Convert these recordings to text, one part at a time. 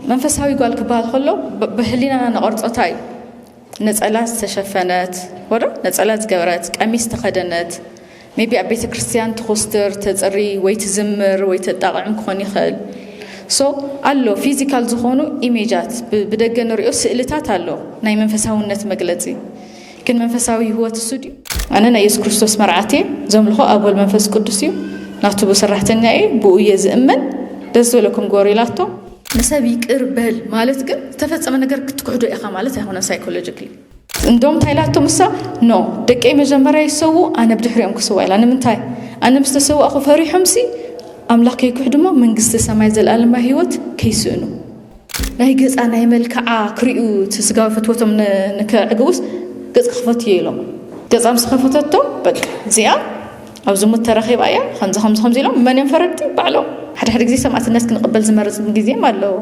መንፈሳዊ ጓል ክበሃል ከሎ ብህሊናና ነቐርጾ እንታይ እዩ? ነጸላ ዝተሸፈነት ወዶ ነጸላ ዝገበረት ቀሚስ ተኸደነት ሜቢ ኣብ ቤተ ክርስቲያን ትኹስትር ተጽሪ ወይ ትዝምር ወይ ተጣቕዕም ክኾን ይኽእል ሶ ኣሎ ፊዚካል ዝኾኑ ኢሜጃት ብደገ ንሪኦ ስእልታት ኣሎ ናይ መንፈሳውነት መግለጺ ግን መንፈሳዊ ህይወት እሱ ድዩ? ኣነ ናይ የሱስ ክርስቶስ መርዓት እየ፣ ዘምልኾ ኣብ ወልድ መንፈስ ቅዱስ እዩ፣ ናቱ ሰራሕተኛ እየ፣ ብእኡ እየ ዝእመን፣ ደስ ዝበለኩም ግበሩ ኢላቶም። ንሰብ ይቅር በል ማለት ግን ዝተፈጸመ ነገር ክትክሕዶ ኢኻ ማለት ኣይኮነን ሳይኮሎጂክሊ። እንዶም እንታይ ኢላቶም እሳ ኖ ደቀይ መጀመርያ ይሰውኡ ኣነ ብድሕሪኦም ክስዋ ኢላ ንምንታይ ኣነ ምስ ተሰዋእኹ ፈሪሖምሲ ኣምላኽ ከይክሕዱሞ መንግስተ ሰማይ ዘለኣለማዊ ህይወት ከይስእኑ ናይ ገፃ ናይ መልክዓ ክሪኡ እቲ ስጋዊ ፍትወቶም ንከዕግቡስ ገፅ ክኽፈት እየ ኢሎም ገፃ ምስ ከፈተቶ በቃ እዚኣ ኣብ ዝሙት ተረኺባ እያ ከምዚ ከምዚ ከምዚ ኢሎም መን እዮም ፈረድቲ ባዕሎም ሓደ ሓደ ግዜ ሰማእትነት ክንቕበል ዝመርፅ ግዜም ኣለዎ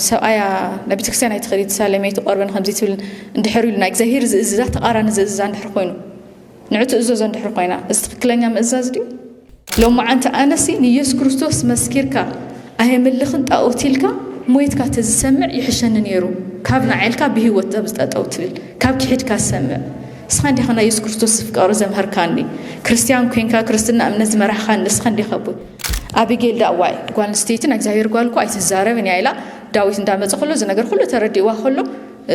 ሰብኣያ ናብ ቤተክርስትያን ኣይትኸዲ ትሳለመይ ትቆርበን ከምዚ ትብል እንድሕር ኢሉ ናይ እግዚኣብሄር ዝእዝዛ ተቃራኒ ዝእዝዛ እንድሕር ኮይኑ ንዑ ትእዘዞ እንድሕር ኮይና እዚ ትክክለኛ ምእዛዝ ድዩ? ሎማዓንቲ ኣነሲ ንየሱስ ክርስቶስ መስኪርካ ኣየምልኽን ጣኦት ኢልካ ሞይትካ ተዝሰምዕ ይሕሸኒ ኔሩ ካብ ናዓልካ ብሂወት ጸብዝ ጠጠው ትብል ካብ ኪሒድካ ዝሰምዕ ንስኻ እንዲኻ ናይ የሱስ ክርስቶስ ፍቅሪ ዘምሀርካኒ ክርስትያን ኮንካ ክርስትና እምነት ዝመራሕኻኒ ንስኻ እንዲኻ ኣቦይ ኣቢጌል ዳኣ ዋይ ጓል ኣንስተይቲ ናይ እግዚኣብሔር ጓል እኮ ኣይትዛረብን እያ ኢላ ዳዊት እንዳመፀ ከሎ እዚ ነገር ኩሉ ተረዲእዋ ከሎ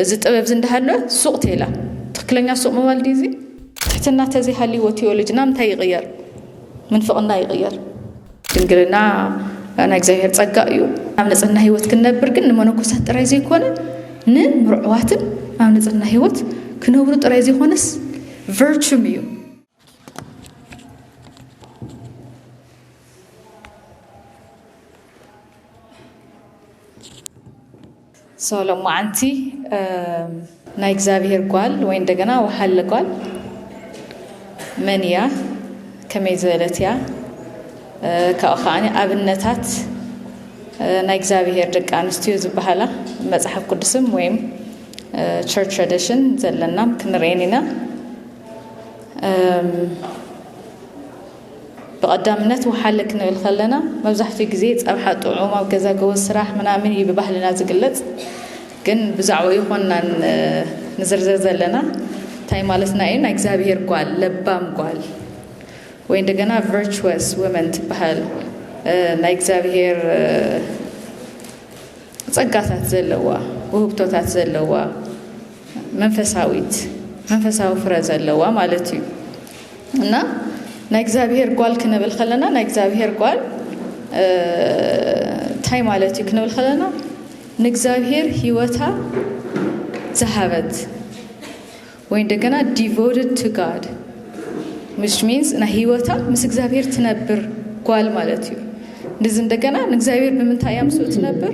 እዚ ጥበብዚ እንዳሃለወ ሱቕ ቴላ ትክክለኛ ሱቕ ምባል ድዩ እዚ? ትሕትና ተዘይሃልይዎ ቲዮሎጅና ምንታይ ይቕየር? ምንፍቕና ይቕየር። ድንግልና ናይ እግዚኣብሔር ጸጋ እዩ። ኣብ ንጽህና ሕይወት ክንነብር ግን ንመነኮሳት ጥራይ ዘይኮነ ንምርዑዋትን ኣብ ንጽህና ሕይወት ክነብሩ ጥራይ ዘይኮነስ ቨርቹም እዩ። ሶሎሞ ኣንቲ ናይ እግዚኣብሄር ጓል ወይ እንደገና ወሓለ ጓል መን እያ? ከመይ ዝበለት እያ? ካብኡ ከዓ ኣብነታት ናይ እግዚኣብሄር ደቂ ኣንስትዮ ዝበሃላ መፅሓፍ ቅዱስም ወይም ቸርች ትራዲሽን ዘለናም ክንርእየን ኢና። ብቐዳምነት ውሓለ ክንብል ከለና መብዛሕትኡ ግዜ ፀብሓ ጥዑም ኣብ ገዛ ጎበዝ ስራሕ ምናምን እዩ ብባህልና ዝግለፅ ግን ብዛዕባ ይኾናን ንዝርዝር ዘለና እንታይ ማለትና እዩ ናይ እግዚኣብሄር ጓል ለባም ጓል ወይ እንደገና ቨርቹወስ ወመን ትበሃል ናይ እግዚኣብሄር ጸጋታት ዘለዋ ውህብቶታት ዘለዋ መንፈሳዊት መንፈሳዊ ፍረ ዘለዋ ማለት እዩ እና ናይ እግዚኣብሄር ጓል ክንብል ከለና ናይ እግዚኣብሄር ጓል እንታይ ማለት እዩ ክንብል ከለና ንእግዚኣብሄር ህይወታ ዝሃበት ወይ እንደገና ዲቮትድ ቱ ጋድ ዊች ሚንስ ናይ ህይወታ ምስ እግዚኣብሄር ትነብር ጓል ማለት እዩ ንዚ እንደገና ንእግዚኣብሄር ብምንታይ እያ ምስኡ ትነብር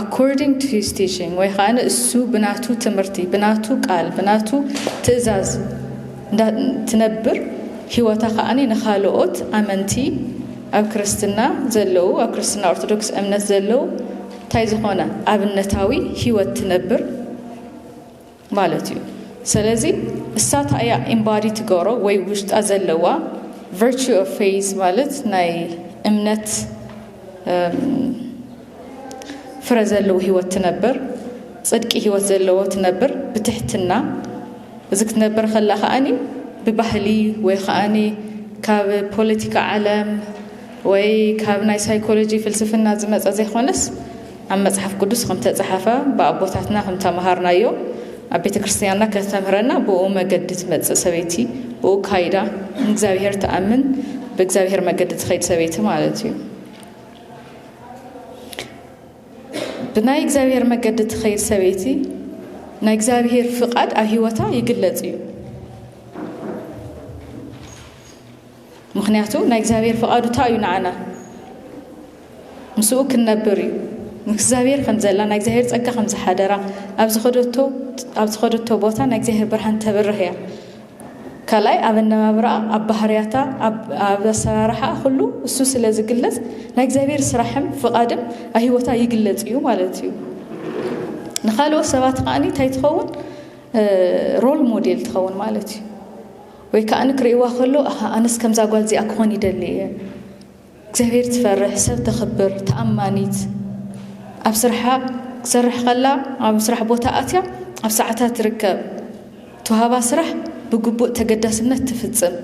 According to his teaching ወይ ኸኣ ንእሱ ብናቱ ትምህርቲ፣ ብናቱ ቃል፣ ብናቱ ትእዛዝ እንዳ ትነብር ህይወታ ኸኣ ንኻልኦት ኣመንቲ ኣብ ክርስትና ዘለዉ ኣብ ክርስትና ኦርቶዶክስ እምነት ዘለዉ እንታይ ዝኾነ ኣብነታዊ ህይወት ትነብር ማለት እዩ ሰለዚ እሳ ታይ እያ ኢምባዲ ትገሮ ወይ ውሽጣ ዘለዋ ቨርቹ ኦፍ ፌዝ ማለት ናይ እምነት ፍረ ዘለዎ ህይወት ትነብር ፅድቂ ህይወት ዘለዎ ትነብር ብትሕትና እዚ ክትነብር ከላ ከዓኒ ብባህሊ ወይ ከዓኒ ካብ ፖለቲካ ዓለም ወይ ካብ ናይ ሳይኮሎጂ ፍልስፍና ዝመፀ ዘይኮነስ ኣብ መጽሓፍ ቅዱስ ከም እተጸሓፈ ብኣቦታትና ከም እተመሃርናዮ ኣብ ቤተ ክርስትያንና ከተምህረና ብእኡ መገዲ ትመጽእ ሰበይቲ ብእኡ ካይዳ ንእግዚኣብሔር ትኣምን ብእግዚኣብሔር መገዲ ትኸይድ ሰበይቲ ማለት እዩ ብናይ እግዚኣብሔር መገዲ ትኸይድ ሰበይቲ ናይ እግዚኣብሔር ፍቓድ ኣብ ህይወታ ይግለጽ እዩ ምኽንያቱ ናይ እግዚኣብሔር ፍቓዱ እንታይ እዩ ንዓና ምስኡ ክንነብር እዩ ምስ እግዚኣብሔር ከም ዘላ ናይ እግዚኣብሔር ጸጋ ከም ዝሓደራ ኣብ ዝኸደቶ ኣብ ዝኸደቶ ቦታ ናይ እግዚኣብሔር ብርሃን ተብርህ እያ ካልኣይ ኣብ ኣነባብራኣ ኣብ ባህርያታ ኣብ ኣሰራርሓ ኩሉ እሱ ስለ ዝግለጽ ናይ እግዚኣብሔር ስራሕም ፍቓድም ኣብ ህይወታ ይግለጽ እዩ ማለት እዩ ንካልኦት ሰባት ከዓኒ እንታይ ትኸውን ሮል ሞዴል ትኸውን ማለት እዩ ወይ ከኣ ክርእይዋ ከሎ ኣሃ ኣነስ ከምዛ ጓል እዚኣ ክኾን ይደሊ እየ እግዚኣብሔር ትፈርሕ ሰብ ተኽብር ተኣማኒት ኣብ ስርሓ ክሰርሕ ከላ ኣብ ስራሕ ቦታ ኣትያ ኣብ ሰዓታ ትርከብ ተዋህባ ስራሕ ብግቡእ ተገዳስነት ትፍጽም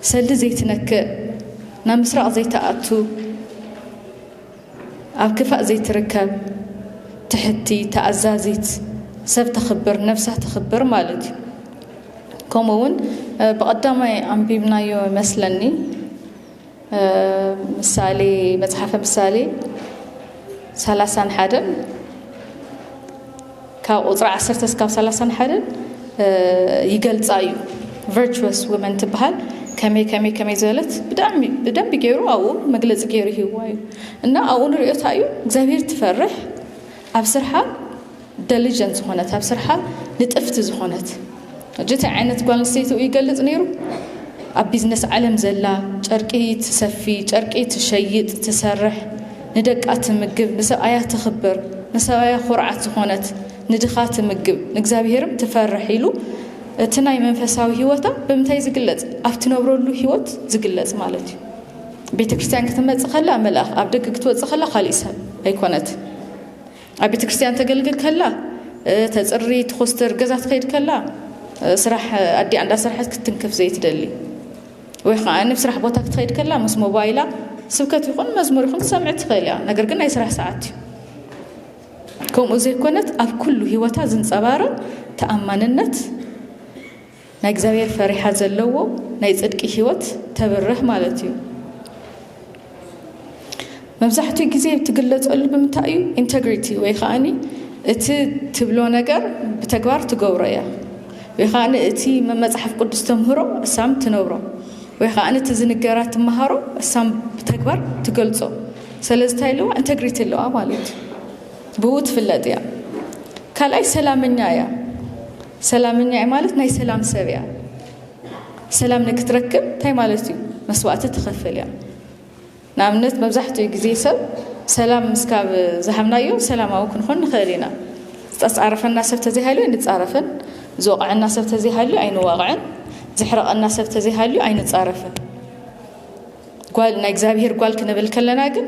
ሰልዲ ዘይትነክእ ናብ ምስራቕ ዘይተኣቱ ኣብ ክፋእ ዘይትርከብ ትሕቲ ተኣዛዚት ሰብ ተኽብር ነብሳ ተኽብር ማለት እዩ ከምኡ እውን ብቐዳማይ ኣንቢብናዮ መስለኒ ምሳሌ መጽሓፈ ምሳሌ ሰላሳን ሓደን ካብ ቁፅሪ ዓሰርተ እስካብ ሰላሳን ሓደን ይገልፃ እዩ ቨርቹስ ውመን ትበሃል ከመይ ከመይ ከመይ ዝበለት ብጣዕሚ ብደንብ ገይሩ ኣብኡ መግለፂ ገይሩ ይህዋ እዩ እና ኣብኡ ንሪኦታ እዩ እግዚኣብሄር ትፈርሕ ኣብ ስርሓ ደሊጀንት ዝኾነት ኣብ ስርሓ ንጥፍቲ ዝኾነት ሕጂ ታይ ዓይነት ጓል ኣንስተይቲ ኡዩ ይገልጽ ነይሩ ኣብ ቢዝነስ ዓለም ዘላ ጨርቂ ትሰፊ ጨርቂ ትሸይጥ ትሰርሕ ንደቃ ትምግብ ንሰብኣያ ተኽብር ንሰብኣያ ኩርዓት ዝኾነት ንድኻ ትምግብ ንእግዚኣብሔርም ትፈርሕ ኢሉ እቲ ናይ መንፈሳዊ ህይወታ ብምንታይ ዝግለጽ ኣብ ትነብረሉ ህይወት ዝግለጽ ማለት እዩ ቤተ ክርስቲያን ክትመጽእ ከላ መልኣኽ ኣብ ደገ ክትወጽእ ከላ ካሊእ ሰብ ኣይኮነት ኣብ ቤተ ክርስቲያን ተገልግል ከላ ተፅሪ ትኾስትር ገዛ ትኸይድ ከላ ስራሕ ኣዲኣ እንዳሰርሐት ክትንክፍ ዘይትደሊ ወይ ከዓ ኣብ ስራሕ ቦታ ክትኸይድ ከላ ምስ ሞባይላ ስብከት ይኹን መዝሙር ይኹን ትሰምዕ ትኽእል እያ ነገር ግን ናይ ስራሕ ሰዓት እዩ ከምኡ ዘይኮነት ኣብ ኩሉ ህይወታ ዝንፀባረቕ ተኣማንነት ናይ እግዚኣብሔር ፈሪሓ ዘለዎ ናይ ጽድቂ ሕይወት ተብርህ ማለት እዩ። መብዛሕትኡ ግዜ ትግለጸሉ ብምንታይ እዩ? ኢንተግሪቲ ወይ ከኣኒ እቲ ትብሎ ነገር ብተግባር ትገብሮ እያ ወይ ከኣኒ እቲ መጽሓፍ ቅዱስ ተምህሮ እሳም ትነብሮ ወይ ከኣኒ እቲ ዝንገራ ትመሃሮ እሳም ብተግባር ትገልጾ ስለዚ እንታይ ኣለዋ ኢንተግሪቲ ኣለዋ ማለት እዩ። ብኡ ትፍለጥ እያ። ካልኣይ ሰላመኛ እያ። ሰላምኛ'የ ማለት ናይ ሰላም ሰብ'ያ። ሰላም ንክትረክብ እንታይ ማለት'ዩ? መስዋእቲ ትኸፍል'ያ። ንኣብነት መብዛሕትኡ ግዜ ሰብ ሰላም ምስ ካብ ዝሃብናዮ ሰላማዊ ክንኾን ንኽእል ኢና። ዝተጻረፈና ሰብ ተዘይሃልዩ ኣይንጻረፍን፣ ዝወቕዐና ሰብ ተዘይሃልዩ ኣይንዋቕዕን፣ ዘሕረቐና ሰብ ተዘይሃልዩ ኣይንጻረፍን። ጓል ናይ እግዚኣብሄር ጓል ክንብል ከለና ግን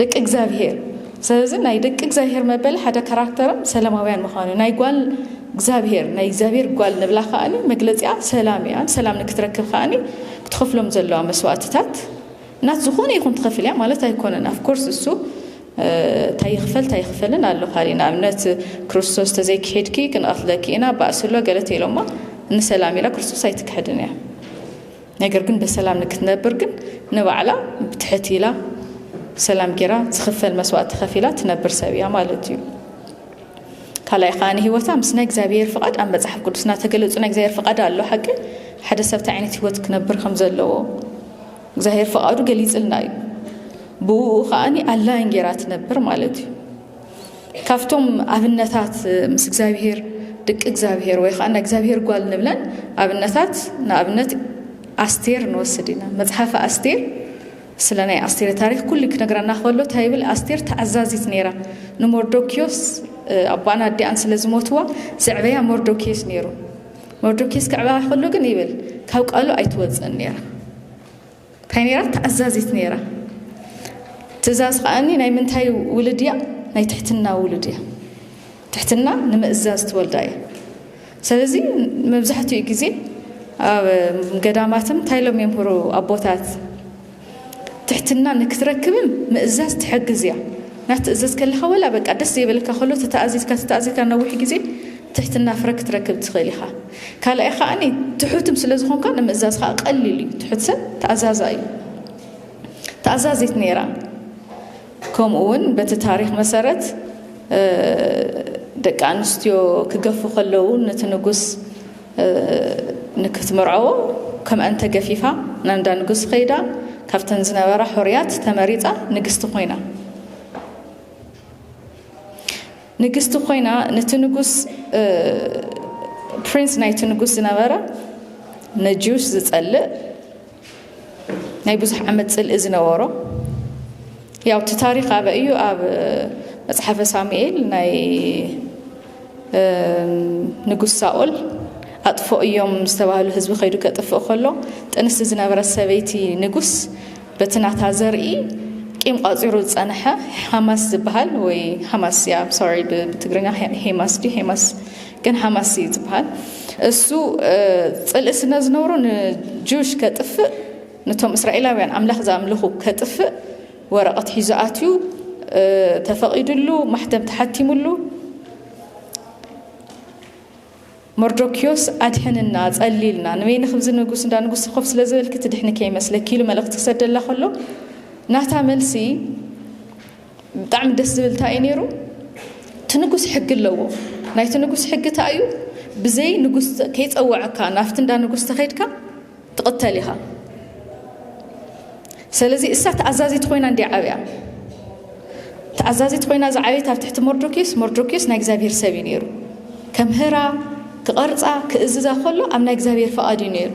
ደቂ እግዚኣብሄር ስለዚ ናይ ደቂ እግዚኣብሄር መበሊ ሓደ ካራክተርም ሰላማውያን ምዃኑ ናይ ጓል እግዚኣብሄር ናይ እግዚኣብሄር ጓል ንብላ ከኣኒ መግለፂኣ ሰላም እያ ሰላም ንክትረክብ ከኣኒ ክትኸፍሎም ዘለዋ መስዋእትታት እናት ዝኾነ ይኹን ትኸፍል እያ ማለት ኣይኮነን ኣፍኮርስ እሱ እንታይ ይኽፈል እንታይ ይኽፈልን ኣሎ ካሊእ ንኣብነት ክርስቶስ ተዘይክሄድኪ ክንቐትለኪ ኢና ባእሲ ኣሎ ገለ ተኢሎማ ንሰላም ኢላ ክርስቶስ ኣይትክሕድን እያ ነገር ግን በሰላም ንክትነብር ግን ንባዕላ ብትሕት ኢላ ሰላም ጌራ ዝኽፈል መስዋእት ተኸፊላ ትነብር ሰብ እያ ማለት እዩ ካልኣይ ከዓ ንሂወታ ምስ ናይ እግዚኣብሔር ፍቓድ ኣብ መፅሓፍ ቅዱስና ተገለፁ ናይ እግዚኣብሔር ፍቓድ ኣሎ ሓቂ ሓደ ሰብ እንታይ ዓይነት ሂወት ክነብር ከም ዘለዎ እግዚኣብሔር ፍቓዱ ገሊፅልና እዩ ብኡ ከዓኒ ኣላይን ጌራ ትነብር ማለት እዩ ካብቶም ኣብነታት ምስ እግዚኣብሄር ድቂ እግዚኣብሄር ወይ ከዓ ናይ እግዚኣብሄር ጓል ንብለን ኣብነታት ንኣብነት ኣስቴር ንወስድ ኢና መፅሓፈ ኣስቴር ስለ ናይ ኣስቴር ታሪክ ኩሉ ክነግረና ከሎ እንታይ ይብል ኣስቴር ተኣዛዚት ነይራ ንሞርዶኪዮስ ኣቦኣን ኣዲኣን ስለ ዝሞትዋ ዘዕበያ ሞርዶኪዮስ ነይሩ ሞርዶኪዮስ ክዕበያ ከሎ ግን ይብል ካብ ቃሉ ኣይትወፅእን ነይራ ታይ ነይራ ተኣዛዚት ነይራ ትእዛዝ ከኣኒ ናይ ምንታይ ውልድ እያ ናይ ትሕትና ውሉድ እያ ትሕትና ንምእዛዝ ትወልዳ እያ ስለዚ መብዛሕትኡ ግዜ ኣብ ገዳማትም እንታይ ሎም የምህሩ ኣቦታት ትሕትና ንክትረክብም ምእዛዝ ትሕግዝ እያ ናትእዘዝ ከለካ ወላ በቃ ደስ ዘይበለካ ከሎ ተተኣዚዝካ ተተኣዚዝካ ነዊሕ ግዜ ትሕትና ፍረ ክትረክብ ትኽእል ኢኻ ካልኣይ ከኣ ትሑትም ስለ ዝኾንካ ንምእዛዝ ከኣ ቀሊል እዩ ትሑት ሰብ ተኣዛዛ እዩ ተኣዛዚት ነይራ ከምኡ እውን በቲ ታሪክ መሰረት ደቂ ኣንስትዮ ክገፉ ከለዉ ነቲ ንጉስ ንክትምርዐዎ ከምኣን ተገፊፋ ናብ እንዳ ንጉስ ከይዳ ካብተን ዝነበራ ሕሩያት ተመሪፃ ንግስቲ ኮይና ንግስቲ ኮይና ነቲ ንጉስ ፕሪንስ ናይቲ ንጉስ ዝነበረ ነጂውስ ዝጸልእ ናይ ብዙሕ ዓመት ጽልኢ ዝነበሮ ያው እቲ ታሪክ ኣበ እዩ ኣብ መጽሓፈ ሳሙኤል ናይ ንጉስ ሳኦል ኣጥፎ እዮም ዝተባህሉ ህዝቢ ከይዱ ከጥፍእ ከሎ ጥንስቲ ዝነበረት ሰበይቲ ንጉስ በቲ ናታ ዘርኢ ቂም ቋፂሩ ዝፀነሐ ሃማስ ዝበሃል ወይ ሃማስ ያ ሶሪ ብትግርኛ ሄማስ ዲ ሄማስ ግን ሃማስ እዩ ዝበሃል እሱ ፅልኢ ስነ ዝነብሮ ንጁሽ ከጥፍእ ነቶም እስራኤላውያን ኣምላኽ ዝኣምልኹ ከጥፍእ ወረቐት ሒዙ ኣትዩ ተፈቒዱሉ ማሕተም ተሓቲሙሉ መርዶክዮስ ኣድሕንና ጸሊልና ንበይኒ ክብዚ ንጉስ እንዳ ንጉስቲ ኮፍ ስለ ዝበልኪ ትድሕኒ ከይመስለኪ ኢሉ መልእኽቲ ክሰደላ ከሎ ናታ መልሲ ብጣዕሚ ደስ ዝብል እንታይ እዩ ነይሩ እቲ ንጉስ ሕጊ ኣለዎ ናይቲ ንጉስ ሕጊ እንታይ እዩ ብዘይ ንጉስ ከይጸወዐካ ናብቲ እንዳ ንጉስ ተኸይድካ ትቕተል ኢኻ ሰለዚ እሳ ተኣዛዚት ኮይና እንዲ ዓብያ ተኣዛዚት ኮይና ዝዓበየት ኣብ ትሕቲ መርዶክዮስ መርዶክዮስ ናይ እግዚኣብሄር ሰብ እዩ ነይሩ ከምህራ ክቐርፃ ክእዝዛ ከሎ ኣብ ናይ እግዚኣብሄር ፍቓድ እዩ ነይሩ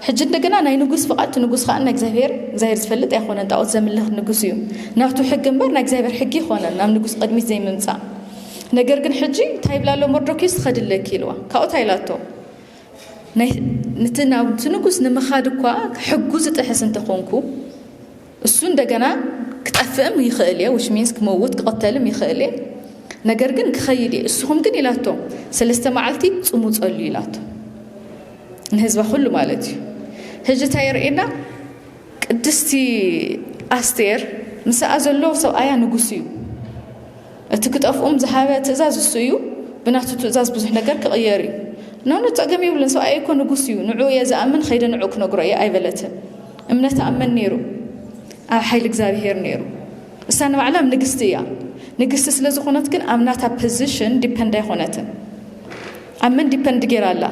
ሕጂ እንደገና ናይ ንጉስ ፍቓድ እቲ ንጉስ ከዓ ናይ እግዚኣብሄር እግዚኣብሄር ዝፈልጥ ኣይኮነን ጣዖት ዘምልኽ ንጉስ እዩ ናቱ ሕጊ እምበር ናይ እግዚኣብሄር ሕጊ ይኮነን ናብ ንጉስ ቅድሚት ዘይምምፃእ ነገር ግን ሕጂ እንታይ ይብላ ኣሎ መርዶክዮስ ትኸድለኪ ኢልዋ ካብኡ እንታይ ኢላቶ ነቲ ናብቲ ንጉስ ንምኻድ እኳ ሕጉ ዝጥሕስ እንተኾንኩ እሱ እንደገና ክጠፍእም ይኽእል እየ ዊች ሚንስ ክመውት ክቐተልም ይኽእል እየ ነገር ግን ክኸይድ እየ እስኹም ግን ኢላቶም ሰለስተ መዓልቲ ጽሙ ጸሉ ኢላቶ ንህዝባ ኩሉ ማለት እዩ ህጂ እታ የርእና ቅድስቲ ኣስቴር ምስኣ ዘሎ ሰብኣያ ንጉስ እዩ እቲ ክጠፍኡም ዝሃበ ትእዛዝ እሱ እዩ ብናቱ ትእዛዝ ብዙሕ ነገር ክቕየር እዩ ኖኖ ጸገም ይብልን ሰብኣይ እኮ ንጉስ እዩ ንዑ እየ ዝኣምን ኸይደ ንዑ ክነግሮ እየ ኣይበለትን እምነት ኣመን ነይሩ ኣብ ሓይሊ እግዚኣብሄር ነይሩ እሳ ንባዕላም ንግስቲ እያ ንግስቲ ስለ ዝኾነት ግን ኣብ ናታ ፖዚሽን ዲፐንድ ኣይኾነትን ኣብ መን ዲፐንድ ጌራ ኣላ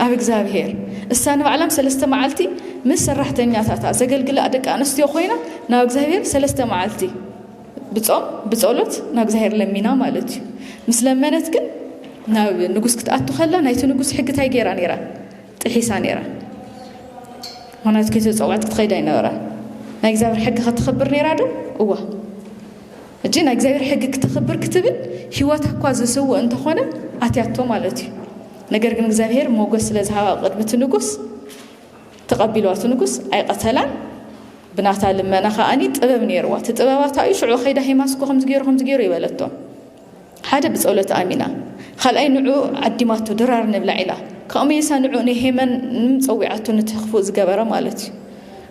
ኣብ እግዚኣብሄር እሳ ንባዕላም ሰለስተ መዓልቲ ምስ ሰራሕተኛታታ ዘገልግላ ደቂ ኣንስትዮ ኮይና ናብ እግዚኣብሄር ሰለስተ መዓልቲ ብጾም ብጸሎት ናብ እግዚኣብሔር ለሚና ማለት እዩ ምስ ለመነት ግን ናብ ንጉስ ክትኣቱ ከላ ናይቲ ንጉስ ሕጊ እንታይ ገይራ ነይራ ጥሒሳ ነይራ ምክንያቱ ከይተጸውዐት ክትኸይድ ኣይነበራን ናይ እግዚኣብሔር ሕጊ ከተኽብር ነይራ ዶ እዋ እጂ ናይ እግዚኣብሔር ሕጊ ክተኽብር ክትብል ህይወት እኳ ዝስውእ እንተኾነ ኣትያቶ ማለት እዩ ነገር ግን እግዚኣብሔር ሞገስ ስለ ዝሃባ ቅድሚ እቲ ንጉስ ተቀቢልዋ እቲ ንጉስ ኣይቀተላን ብናታ ልመና ከኣ ጥበብ ነይርዋ እቲ ጥበባታ እዩ ሽዑ ከይዳ ሄማስኮ ከምዚ ገይሩ ከምዚ ገይሩ ይበለቶ ሓደ ብጸሎት ኣሚና ካልኣይ ንዑ ዓዲማቶ ድራር ንብላ ኢላ ካብኡ መይሳ ንዑ ንሄመን ጸዊዓቶ ነቲ ክፉእ ዝገበረ ማለት እዩ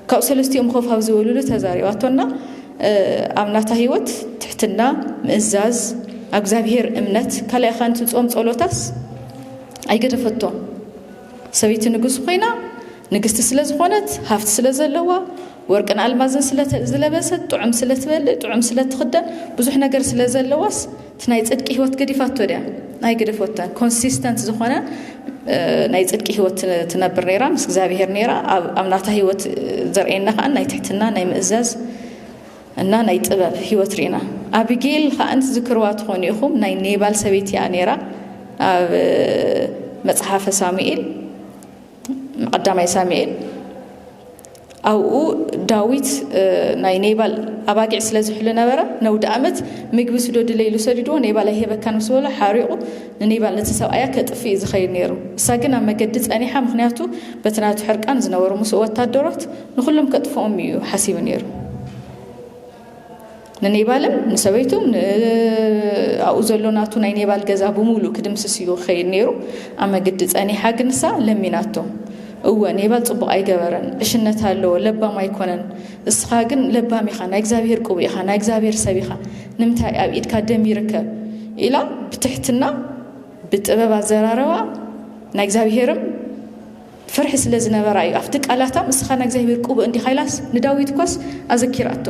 ካብ ሰለስቲኦም ኮፍ ኣብ ዝበሉሉ ተዛሪባቶና ኣብ ናታ ህይወት ትሕትና ምእዛዝ ኣብ እግዚኣብሄር እምነት ካልኣይ ኻንቲ ጾም ጸሎታስ ኣይገደፈቶ ሰበይቲ ንጉስ ኾይና ንግስቲ ስለ ዝኾነት ሃፍቲ ስለ ዘለዋ ወርቅን ኣልማዝን ስለ ዝለበሰት ጥዑም ስለ ትበልእ ጥዑም ስለ ትኽደን ብዙሕ ነገር ስለ ዘለዋስ እቲ ናይ ጽድቂ ህይወት ገዲፋቶ ድያ ናይ ገደፎተን ኮንሲስተንት ዝኾነ ናይ ጽድቂ ህይወት ትነብር ነይራ ምስ እግዚኣብሄር ነይራ ኣብ ናታ ህይወት ዘርእየና ከኣ ናይ ትሕትና ናይ ምእዛዝ እና ናይ ጥበብ ሂወት ሪእና ኣቢጌል ከኣ ትዝክርዋ ትኾኑ ኢኹም ናይ ኔባል ሰበይቲ እያ ኔራ ኣብ መጽሓፈ ሳሙኤል ቀዳማይ ሳሙኤል ኣብኡ ዳዊት ናይ ኔባል ኣባጊዕ ስለ ዝሕሉ ነበረ ነውዲ ኣመት ምግቢ ስደዱለይ ኢሉ ሰዲድዎ ኔባል ኣይሄበካን ምስ በሎ ሓሪቑ ንኔባል ነቲ ሰብኣያ ከጥፍ እዩ ዝኸይድ ነይሩ እሳ ግን ኣብ መገዲ ጸኒሓ ምክንያቱ በቲ ናቱ ሕርቃን ዝነበሩ ምስ ወታደሮት ንኹሎም ከጥፍኦም እዩ ሓሲቡ ነይሩ። ንኔባልን ንሰበይቱን ኣብኡ ዘሎ ናቱ ናይ ኔባል ገዛ ብምሉእ ክድምስስ እዩ ክኸይድ ነይሩ። ኣብ መግዲ ጸኒሓ ግን ንሳ ለሚናቶ። እወ ኔባል ጽቡቕ ኣይገበረን፣ ዕሽነት ኣለዎ፣ ለባም ኣይኮነን። እስኻ ግን ለባም ኢኻ፣ ናይ እግዚኣብሄር ቅቡእ ኢኻ፣ ናይ እግዚኣብሄር ሰብ ኢኻ፣ ንምንታይ ኣብ ኢድካ ደም ይርከብ? ኢላ ብትሕትና ብጥበብ ኣዘራረባ ናይ እግዚኣብሄርም ፍርሒ ስለ ዝነበራ እዩ። ኣብቲ ቃላታ እስኻ ናይ እግዚኣብሔር ቅቡእ እንዲኻ ኢላስ ንዳዊት እኳስ ኣዘኪራቶ።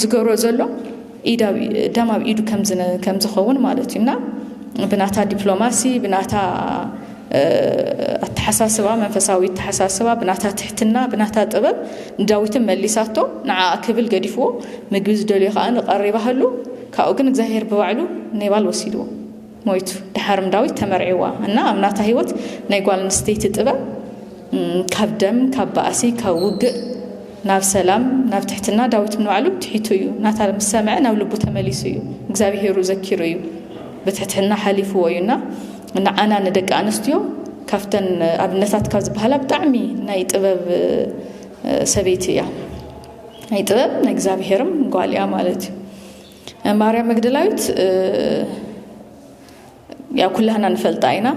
ዝገብሮ ዘሎ ደም ኣብ ኢዱ ከም ዝኸውን ማለት እዩ እና ብናታ ዲፕሎማሲ ብናታ ኣተሓሳስባ መንፈሳዊ ኣተሓሳስባ ብናታ ትሕትና ብናታ ጥበብ ንዳዊትን መሊሳቶ ንዓ ክብል ገዲፍዎ ምግቢ ዝደልዮ ከዓ ንቀሪባሃሉ ካብኡ ግን እግዚኣብሔር ብባዕሉ ኔባል ወሲድዎ ሞይቱ ደሓርም ዳዊት ተመርዒዋ እና ኣብ ናታ ሂወት ናይ ጓል ኣንስተይቲ ጥበብ ካብ ደም ካብ ባእሲ ካብ ውግእ ናብ ሰላም ናብ ትሕትና ዳዊት ንባዕሉ ትሒቱ እዩ ናታ ምስ ሰምዐ ናብ ልቡ ተመሊሱ እዩ እግዚኣብሄሩ ዘኪሩ እዩ ብትሕትና ሓሊፍዎ እዩ እና ንዓና ንደቂ ኣንስትዮ ካብተን ኣብነታት ካብ ዝበሃላ ብጣዕሚ ናይ ጥበብ ሰበይቲ እያ ናይ ጥበብ ናይ እግዚኣብሄርም ጓል እያ ማለት እዩ ማርያም መግደላዊት ያው ኩላህና ንፈልጣ ኢና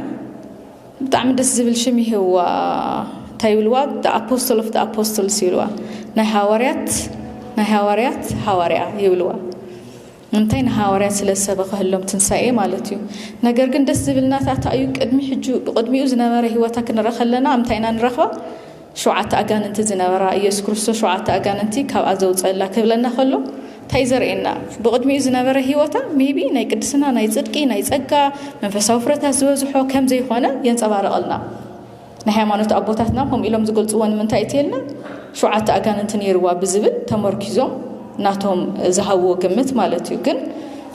ብጣዕሚ ደስ ዝብል ሽም ይህዋ እንታይ ይብልዋ ኣፖስቶል ኦፍ ኣፖስቶልስ ይብልዋ ናይ ሃዋርያት ናይ ሃዋርያት ሃዋርያ ይብልዋ እንታይ ንሃዋርያት ስለ ዝሰበኸህሎም ትንሳኤ ማለት እዩ ነገር ግን ደስ ዝብልናታት እዩ ቅድሚ ሕጁ ቅድሚኡ ዝነበረ ህይወታ ክንረኢ ከለና እንታይ ኢና ንረኽባ ሸውዓተ ኣጋንንቲ ዝነበራ ኢየሱስ ክርስቶስ ሸውዓተ ኣጋንንቲ ካብኣ ዘውጸኣላ ክብለና ከሎ ታይ እዩ ዘርእየና ብቅድሚኡ ዝነበረ ሂወታ ሜይቢ ናይ ቅድስና ናይ ጽድቂ ናይ ጸጋ መንፈሳዊ ፍረታት ዝበዝሖ ከም ዘይኮነ የንጸባርቀልና ናይ ሃይማኖት ኣቦታትና ከምኡ ኢሎም ዝገልጽዎ ንምንታይ እትየልና ሸውዓተ ኣጋንንቲ ነይርዋ ብዝብል ተመርኪዞም ናቶም ዝሃብዎ ግምት ማለት እዩ ግን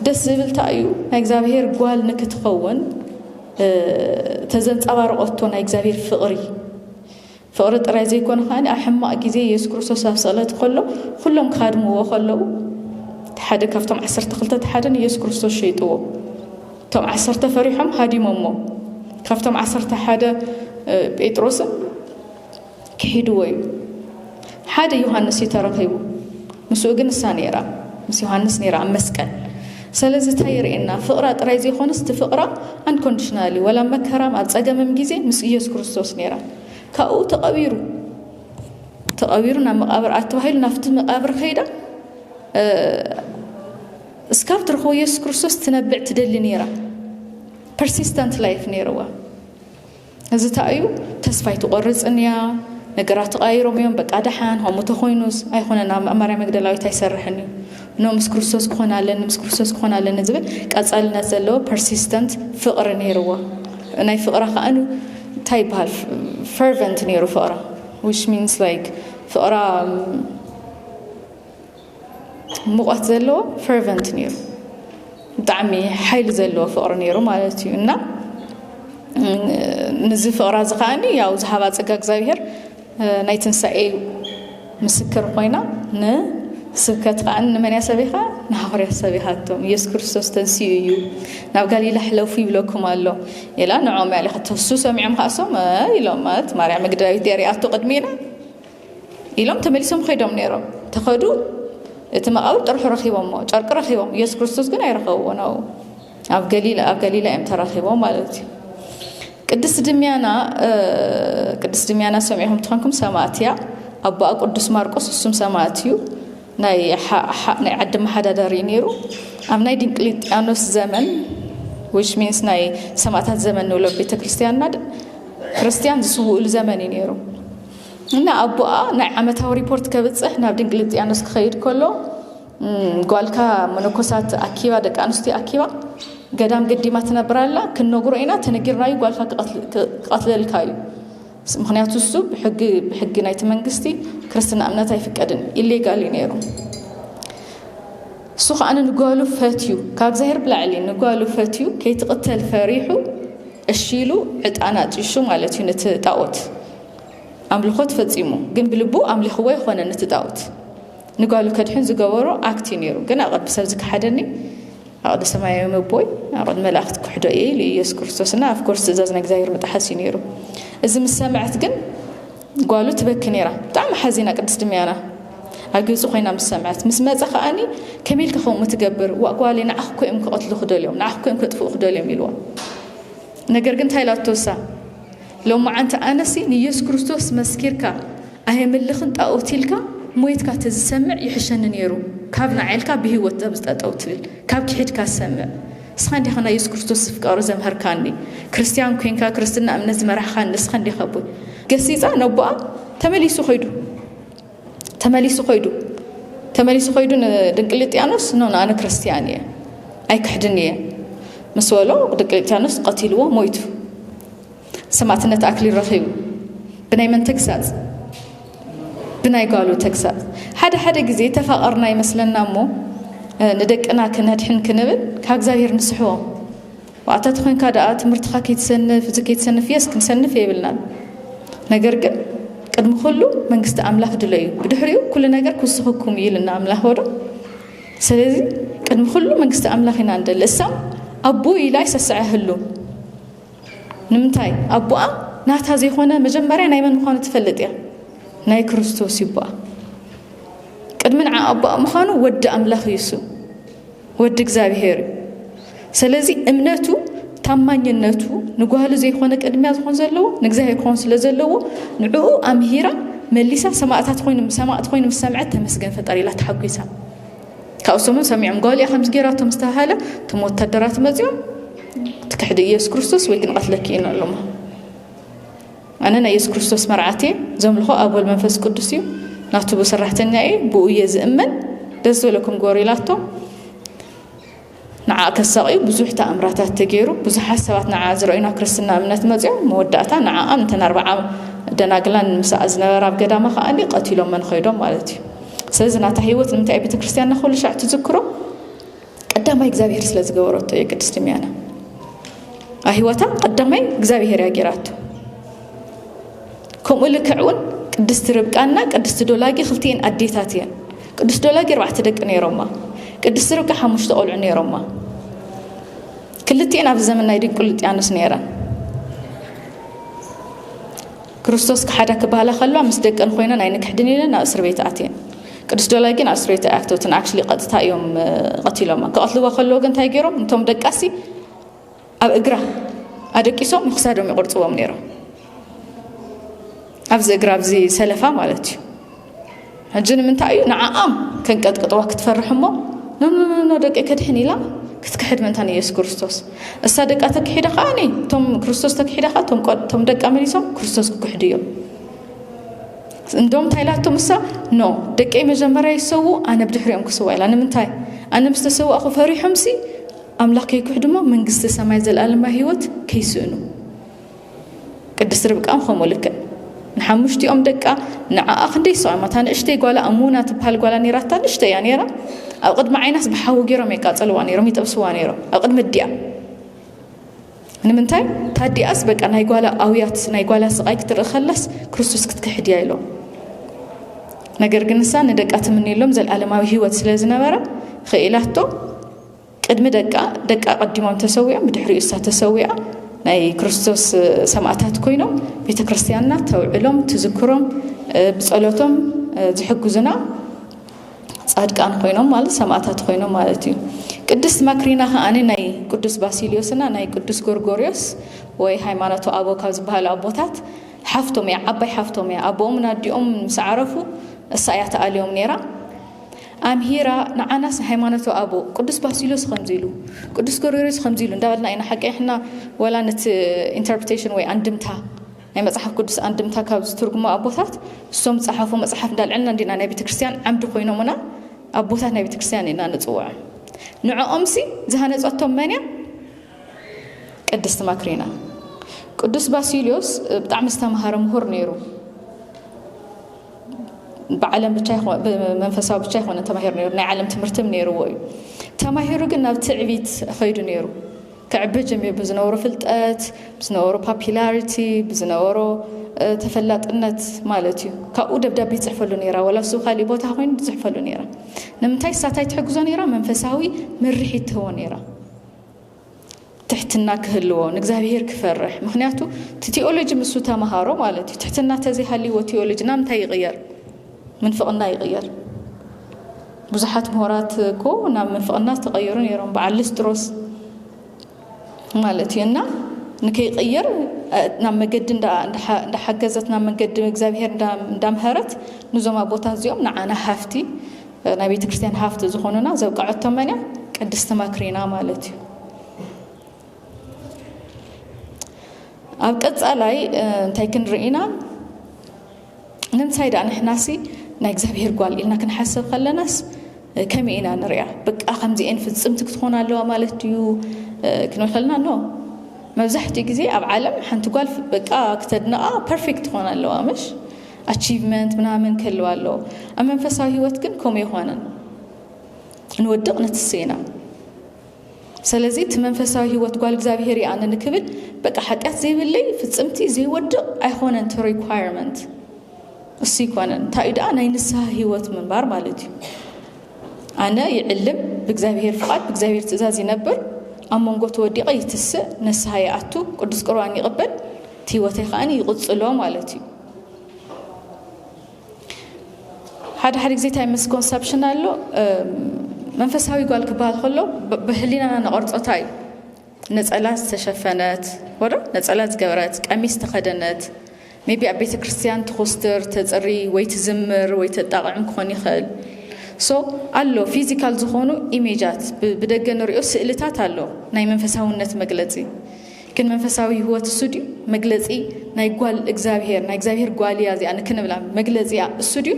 ደስ ዝብል ታይ እዩ ናይ እግዚኣብሔር ጓል ንክትኸውን ተዘንጸባርቀቶ ናይ እግዚኣብሔር ፍቅሪ ፍቕሪ ጥራይ ዘይኮነ ከኣ ኣብ ሕማቕ ግዜ የሱስ ክርስቶስ ኣብ ስቕለት ከሎ ኩሎም ክሃድምዎ ከለዉ ሓደ ካብቶም ዓሰርተ ክልተ ሓደ ንየሱስ ክርስቶስ ሸይጥዎ እቶም ዓሰርተ ፈሪሖም ሃዲሞሞ ካብቶም ዓሰርተ ሓደ ጴጥሮስን ክሒድዎ እዩ ሓደ ዮሃንስ እዩ ተረኺቡ ምስኡ ግን እሳ ነይራ ምስ ዮሃንስ ነይራ ኣብ መስቀል ሰለዚ እንታይ የርእየና ፍቕራ ጥራይ ዘይኮነስ እቲ ፍቕራ ኣንኮንዲሽናል እዩ ወላ መከራም ኣብ ጸገምም ግዜ ምስ ኢየሱስ ክርስቶስ ነይራ ካብኡ ተቐቢሩ ተቐቢሩ ናብ መቓብር ኣተባሂሉ ናብቲ መቓብር ከይዳ እስካብ ትረኽቦ ኢየሱስ ክርስቶስ ትነብዕ ትደሊ ነይራ ፐርሲስተንት ላይፍ ነይርዋ እዚ ታእዩ ተስፋ ኣይትቆርጽን እያ ነገራት ተቃይሮም እዮም በቃ ደሓን ከምኡ ተኮይኑስ ኣይኮነን ኣብ ማርያም መግደላዊት ኣይሰርሕን እዩ ኖ ምስ ክርስቶስ ክኾን ኣለኒ ምስ ክርስቶስ ክኾን ኣለኒ ዝብል ቀጻልነት ዘለዎ ፐርሲስተንት ፍቅሪ ነይርዎ ናይ ፍቅራ ከዓ እንታይ ይበሃል ፈርቨንት ነይሩ ፍቅራ ዊች ሚንስ ላይክ ፍቅራ ሙቐት ዘለዎ ፈርቨንት ነይሩ ብጣዕሚ ሓይሊ ዘለዎ ፍቕሪ ነይሩ ማለት እዩ እና ንዚ ፍቕራ እዚ ከዓኒ ያው ዝሃባ ፀጋ እግዚኣብሄር ናይ ትንሳኤ ምስክር ኮይና ንስብከት ከዓ ንመን እያ ሰቢኻ ንሃዋርያ ሰቢኻቶም ኢየሱስ ክርስቶስ ተንስኡ እዩ ናብ ጋሊላ ሕለፉ ይብለኩም ኣሎ ኢላ ንዖም ያለ ከተሱ ሰሚዖም ከዓሶም ኢሎም ማለት ማርያም መግደላዊት እያ ሪኣቶ ቅድሜና ኢሎም ተመሊሶም ኸይዶም ነይሮም ተኸዱ እቲ መቓብር ጥርሑ ረኺቦሞ ጨርቂ ረኺቦም ኢየሱስ ክርስቶስ ግን ኣይረኸብዎ ነው ኣብ ገሊላ ኣብ ገሊላ እዮም ተራኺቦም ማለት እዩ ቅድስት ድምያና ቅድስት ድምያና ሰሚዕኹም ትኾንኩም ሰማእት እያ ኣቦኣ ቅዱስ ማርቆስ እሱም ሰማእት እዩ ናይ ናይ ዓዲ መሓዳደሪ እዩ ነይሩ ኣብ ናይ ድንቅሊጥያኖስ ዘመን ዊች ሚንስ ናይ ሰማእታት ዘመን ንብሎ ቤተ ክርስቲያንና ክርስቲያን ዝስውእሉ ዘመን እዩ ነይሩ እና ኣቦኣ ናይ ዓመታዊ ሪፖርት ከብጽሕ ናብ ድንግልጥያኖስ ክኸይድ ከሎ ጓልካ መነኮሳት ኣኪባ ደቂ ኣንስትዮ ኣኪባ ገዳም ገዲማ ትነብር ኣላ ክንነግሮ ኢና ተነጊርና እዩ ጓልካ ክቐትለልካ እዩ ምክንያቱ እሱ ብሕጊ ብሕጊ ናይቲ መንግስቲ ክርስትና እምነት ኣይፍቀድን ኢሌጋል እዩ ነይሩ እሱ ከዓነ ንጓሉ ፈትዩ ካብ ዛሄር ብላዕሊ ንጓሉ ፈትዩ ከይትቕተል ፈሪሑ እሺ ኢሉ ዕጣን ኣጢሹ ማለት እዩ ነቲ ጣዖት ኣምልኾት ፈጺሙ ግን ብልቡ ኣምሊኽዎ ኣይኾነን ነቲ ጣኦት ንጓሉ ከድሕን ዝገበሮ ኣክት እዩ ነይሩ ግን ኣብ ቅድሚ ሰብ ዝከሓደኒ ኣብ ቅድሚ ሰማያዊ መቦይ ኣብ ቅድሚ መላእክቲ ክሕዶ እየ ኢሉ ኢየሱስ ክርስቶስ እና ኣፍኮርስ ትእዛዝ ናይ እግዚኣብሔር ምጥሓስ እዩ ነይሩ እዚ ምስ ሰምዐት ግን ጓሉ ትበኪ ነይራ ብጣዕሚ ሓዚና ቅድስት ድምያና ኣብ ግብፂ ኮይና ምስ ሰምዐት ምስ መፀ ከዓኒ ከመይ ኢልካ ከምኡ ትገብር ዋእ ጓለይ ንዓኽ እኮ እዮም ክቐትሉ ክደልዮም ንዓኽ እኮ እዮም ከጥፍኡ ክደልዮም ኢልዋ ነገር ግን እንታይ ኢላ ተወሳ ሎማዓንቲ ኣነሲ ንየሱስ ክርስቶስ መስኪርካ ኣየምልኽን ጣኦት ኢልካ ሞይትካ ተዝሰምዕ ይሕሸኒ ኔሩ ካብ ናዓ ኢልካ ብሂወት ኣብዚ ጠጠው ትብል ካብ ኪሒድካ ሰምዕ እስኻ እንዲኻ ናይ የሱስ ክርስቶስ ዝፍቃሩ ዘምሀርካኒ ክርስትያን ኮንካ ክርስትና እምነት ዝመራሕኻኒ እስኻ እንዲኻ ኣቦይ ገሲጻ ነቦኣ ተመሊሱ ከይዱ ተመሊሱ ኮይዱ ተመሊሱ ኮይዱ ንድንቅልጥያኖስ ኖ ኣነ ክርስትያን እየ ኣይክሕድን እየ ምስ በሎ ድንቅልጥያኖስ ቀቲልዎ ሞይቱ ሰማዕትነት ኣክሊል ረኺቡ ብናይ መን ተግሳፅ ብናይ ጓሉ ተግሳፅ ሓደ ሓደ ግዜ ተፋቐርና ይመስለና እሞ ንደቅና ክነድሕን ክንብል ካብ እግዚኣብሔር ንስሕቦም ዋዕታ ተኾይንካ ደኣ ትምህርትኻ ከይትሰንፍ እዚ ከይትሰንፍ የስ ክንሰንፍ የብልናን ነገር ግን ቅድሚ ኩሉ መንግስቲ ኣምላኽ ድለዩ ብድሕሪኡ ኩሉ ነገር ክውስኸኩም እዩ ኢልና ኣምላኽ ወዶ ስለዚ ቅድሚ ኩሉ መንግስቲ ኣምላኽ ኢና ንደሊ እሳም ኣቦ ኢላ ይሰስዐ ህሉ ንምንታይ ኣቦኣ ናታ ዘይኮነ መጀመርያ ናይ መን ምዃኑ ትፈልጥ እያ ናይ ክርስቶስ ይቦኣ ቅድሚ ንዓ ኣቦኣ ምዃኑ ወዲ ኣምላኽ እዩ እሱ ወዲ እግዚኣብሄር እዩ ሰለዚ እምነቱ ታማኝነቱ ንጓሉ ዘይኮነ ቅድሚያ ዝኾን ዘለዎ ንእግዚኣብሄር ክኾን ስለ ዘለዎ ንዕኡ ኣምሂራ መሊሳ ሰማእታት ኮይኑ ሰማእት ኮይኑ ምስ ሰምዐት ተመስገን ፈጣሪ ኢላ ተሓጒሳ ካብኡ ሰሙን ሰሚዖም ጓልያ ከምዚ ጌራቶ ምስ ተባሃለ እቶም ወታደራት መፂኦም ትክሕዲ ኢየሱስ ክርስቶስ ወይ ክንቐትለኪ ኢና ኣለሞ ኣነ ናይ የሱስ ክርስቶስ መርዓት እየ ዘምልኾ ኣብ ወልድ መንፈስ ቅዱስ እዩ ናቱ ብሰራሕተኛ እየ ብኡ እየ ዝእመን ደስ ዘለኩም ግበሩ ኢላቶም ንዓ ከሳቕዩ ብዙሕ ተኣምራታት ተገይሩ ብዙሓት ሰባት ንዓ ዝረእዩ ናብ ክርስትና እምነት መፅኦም መወዳእታ ንዓኣን እተን ኣርባዓ ደናግላን ምስኣ ዝነበራ ኣብ ገዳማ ከዓ ቀቲሎመን ኸይዶም ማለት እዩ ስለዚ ናታ ህይወት ንምንታይ ቤተ ክርስቲያንና ኩሉ ሻዕ ትዝክሮ ቀዳማይ እግዚኣብሔር ስለ ዝገበረቶ እዩ ቅድስት ሚያና ኣብ ህይወታ ቀዳማይ እግዚኣብሔር እያ ጌራቶ ከምኡ ልክዕ እውን ቅድስቲ ርብቃና ቅድስቲ ዶላጊ ክልቲኤን ኣዴታት እየን ቅዱስ ዶላጊ ኣርባዕተ ደቂ ነይሮማ ቅድስቲ ርብቃ ሓሙሽተ ቆልዑ ነይሮማ ክልቲኤን ኣብ ዘመን ናይ ድንቁልጥያኖስ ነይረን ክርስቶስ ክሓዳ ክበሃላ ከለዋ ምስ ደቀን ኮይነን ኣይንክሕድን ኢለን ናብ እስርቤት ኣትየን ቅዱስ ዶላይ ግን ኣብ እስርቤት ኣይኣክተውትን ኣክሽሊ ቀጥታ እዮም ቀትሎማ ክቐትልዋ ከለዎ ግን እንታይ ገይሮም እንቶም ደቃሲ ኣብ እግራ ኣደቂሶም ንክሳዶም ይቕርፅዎም ነይሮም ኣብዚ እግራ ኣብዚ ሰለፋ ማለት እዩ ሕጂ ንምንታይ እዩ ንዓኣም ከንቀጥቅጥዋ ክትፈርሕ እሞ ኖኖኖኖ ደቂ ከድሕን ኢላ ክትክሕድ ምእንታ ንኢየሱስ ክርስቶስ እሳ ደቃ ተክሒዳ ከዓ እኔ እቶም ክርስቶስ ተክሒዳ ከዓ እቶም ደቃ መሊሶም ክርስቶስ ክክሕዱ እዮም እንደውም እንታይ ኢላቶም እሳ ኖ ደቀይ መጀመርያ ይሰዉ ኣነ ብድሕሪኦም ክስዋ ኢላ ንምንታይ ኣነ ምስ ተሰዋእኹ ፈሪሖምሲ ኣምላኽ ከይክሕዱ እሞ መንግስቲ ሰማይ ዘለኣለማ ህይወት ከይስእኑ ቅድስት ርብቃም ከምኡ ልክዕ ንሓሙሽቲኦም ደቃ ንዓኣ ክንደይ ሰዖማ እታ ንእሽተይ ጓላ እሙና ትበሃል ጓላ ነይራታ ንእሽተይ እያ ነይራ ኣብ ቅድሚ ዓይናስ ብሓዊ ገይሮም የቃፀልዋ ነይሮም ይጠብስዋ ነይሮም ኣብ ቅድሚ ኣዲኣ ንምንታይ ታዲኣስ በቃ ናይ ጓላ ኣውያት ናይ ጓላ ስቃይ ክትርኢ ከላስ ክርስቶስ ክትክሕድ እያ ኢሎም ነገር ግን ንሳ ንደቃ ትምንየሎም ዘለዓለማዊ ህይወት ስለ ዝነበረ ኽኢላቶ ቅድሚ ደቃ ደቃ ቀዲሞም ተሰዊኦም ብድሕሪኡ እሳ ተሰዊኣ ናይ ክርስቶስ ሰማእታት ኮይኖም ቤተ ክርስቲያንና ተውዕሎም ትዝክሮም ብጸሎቶም ዝሕግዙና ጻድቃን ኮይኖም ማለት ሰማእታት ኮይኖም ማለት እዩ ቅድስት ማክሪና ከዓኒ ናይ ቅዱስ ባሲልዮስና ናይ ቅዱስ ጎርጎርዮስ ወይ ሃይማኖቱ ኣቦ ካብ ዝበሃሉ ኣቦታት ሓፍቶም እያ ዓባይ ሓፍቶም እያ ኣቦኦምን ኣዲኦም ምስ ዓረፉ እሳ እያ ተኣልዮም ነይራ ኣምሂራ ንዓናስ ሃይማኖተ ኣበው ቅዱስ ባሲሎስ ኸምዚ ኢሉ ቅዱስ ጎርጎርዮስ ኸምዚ ኢሉ እንዳበልና ኢና ሓቂሕና ወላ ነቲ ኢንተርፕሬቴሽን ወይ ኣንድምታ ናይ መጽሓፍ ቅዱስ ኣንድምታ ካብ ዝትርጉሙ ኣቦታት እሶም ዝጸሓፉ መጽሓፍ እንዳልዐልና እንዲና ናይ ቤተ ክርስቲያን ዓምዲ ኮይኖሙና ኣቦታት ናይ ቤተ ክርስቲያን ኢና ንጽውዖም ንዕኦምሲ ዝሃነጸቶም መን እያ ቅድስቲ ማክሪና ቅዱስ ባሲልዮስ ብጣዕሚ ዝተምሃረ ምሁር ነይሩ ብዓለም ብቻ ብመንፈሳዊ ብቻ ይኮነ ተማሂሩ ነይሩ ናይ ዓለም ትምህርትም ነይርዎ እዩ ተማሂሩ ግን ናብ ትዕቢት ከይዱ ነይሩ ክዕቢ ጀሚሩ ብዝነበሮ ፍልጠት ብዝነበሮ ፓፒላሪቲ ብዝነበሮ ተፈላጥነት ማለት እዩ ካብኡ ደብዳቤ ይፅሕፈሉ ነይራ ወላ ሱ ካሊእ ቦታ ኮይኑ ዝፅሕፈሉ ነይራ ንምንታይ ሳታይ ትሕግዞ ነይራ መንፈሳዊ ምርሒት ትህቦ ነይራ ትሕትና ክህልዎ ንእግዚኣብሄር ክፈርሕ ምክንያቱ እቲ ቴኦሎጂ ምስ ተምሃሮ ማለት እዩ ትሕትና ተዘይሃልይዎ ቴኦሎጂ ናብ እንታይ ይቕየር ምንፍቕና ይቕየር ብዙሓት ምሁራት እኮ ናብ ምንፍቕና ዝተቐየሩ ነይሮም በዓል ልስጥሮስ ማለት እዩ እና ንከይቕየር ናብ መገዲ እንዳሓገዘት ናብ መንገዲ እግዚኣብሄር እንዳምሀረት ንዞም ኣቦታት እዚኦም ንዓና ሃፍቲ ናይ ቤተ ክርስቲያን ሃፍቲ ዝኾኑና ዘብቀዐቶ መን እያ? ቅድስቲ ማክሪና ማለት እዩ። ኣብ ቀጻላይ እንታይ ክንርኢ ኢና? ንምንታይ ደኣ ንሕናሲ ናይ እግዚኣብሄር ጓል ኢልና ክንሓስብ ከለናስ ከመይ ኢና ንሪኣ? በቃ ከምዚኤን ፍጽምቲ ክትኾን ኣለዋ ማለት ድዩ ክንብል ከለና ኖ መብዛሕትኡ ግዜ ኣብ ዓለም ሓንቲ ጓል በቃ ክተድንቓ ፐርፌክት ትኾን ኣለዋ ምሽ ኣቺቭመንት ምናምን ክህልው ኣለዎ። ኣብ መንፈሳዊ ህይወት ግን ከምኡ የኾነን። ንወድቕ ንትስእ ኢና። ስለዚ እቲ መንፈሳዊ ህይወት ጓል እግዚኣብሔር እየ ኣነ ንክብል በቃ ሓጢኣት ዘይብለይ ፍጽምቲ ዘይወድቕ ኣይኾነን እቲ ሪኳየርመንት እሱ ይኮነን። እንታይ እዩ ደኣ ናይ ንስሓ ህይወት ምንባር ማለት እዩ። ኣነ ይዕልም ብእግዚኣብሔር ፍቓድ ብእግዚኣብሔር ትእዛዝ ይነብር ኣብ መንጎ ተወዲቐ ይትስእ ንስሓ ይኣቱ ቅዱስ ቁርባን ይቕበል እቲ ህይወተይ ከኣ ይቕጽሎ ማለት እዩ። ሓደ ሓደ ግዜ እንታይ መስኮንሰፕሽን ኣሎ፣ መንፈሳዊ ጓል ክበሃል ከሎ ብህሊናና ንቐርጾ እንታይ እዩ ነጸላ ዝተሸፈነት ወዶ ነጸላ ዝገበረት ቀሚስ ተኸደነት ሜቢ ኣብ ቤተ ክርስቲያን ትኹስትር ተፅሪ ወይ ትዝምር ወይ ተጣቕዕም ክኾን ይኽእል ሶ ኣሎ ፊዚካል ዝኾኑ ኢሜጃት ብደገ ንሪኦ ስእልታት ኣሎ ናይ መንፈሳውነት መግለፂ ግን መንፈሳዊ ህይወት እሱ ድዩ መግለጺ ናይ ጓል እግዚኣብሄር ናይ እግዚኣብሄር ጓል እያ እዚኣ ንክንብላ መግለጺ እያ እሱ ድዩ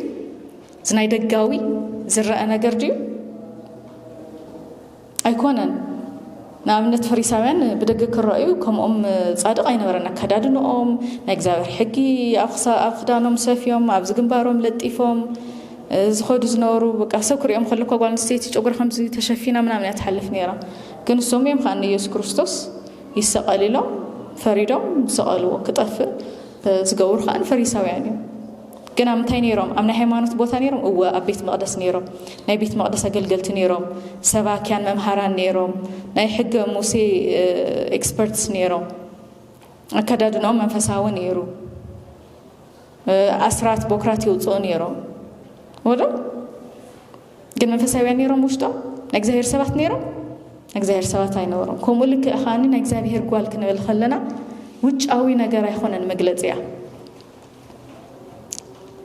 እዚ ናይ ደጋዊ ዝረአ ነገር ድዩ ኣይኮነን ንኣብነት ፈሪሳውያን ብደገ ክረኣዩ ከምኦም ፃድቕ ኣይነበረን ኣከዳድንኦም ናይ እግዚኣብሔር ሕጊ ኣብ ክዳኖም ሰፍዮም ኣብዚ ግንባሮም ለጢፎም ዝኸዱ ዝነበሩ በቃ ሰብ ክሪኦም ከለኳ ጓል ኣንስተይቲ ጨጉሪ ከምዚ ተሸፊና ምናምን እያ ትሓልፍ ነይራ ግን ሶም እዮም ከኣ ንኢየሱስ ክርስቶስ ይሰቀል ኢሎም ፈሪዶም ዝሰቀልዎ ክጠፍእ ዝገብሩ ከኣ ፈሪሳውያን እዮም ግን ኣብ ምንታይ ነይሮም ኣብ ናይ ሃይማኖት ቦታ ነይሮም እወ ኣብ ቤት መቅደስ ነይሮም ናይ ቤት መቅደስ ኣገልገልቲ ነይሮም ሰባኪያን መምሃራን ነይሮም ናይ ሕገ ሙሴ ኤክስፐርትስ ነይሮም ኣከዳድናኦም መንፈሳዊ ነይሩ ኣስራት ቦክራት ይውፅኡ ነይሮም ወደ ግን መንፈሳውያን ነይሮም ውሽጦም ናይ እግዚኣብሔር ሰባት ነይሮም ናይ እግዚኣብሔር ሰባት ኣይነበሮም ከምኡ ልክዕ ከኣ ናይ እግዚኣብሔር ጓል ክንብል ከለና ውጫዊ ነገር ኣይኮነን መግለፂ እያ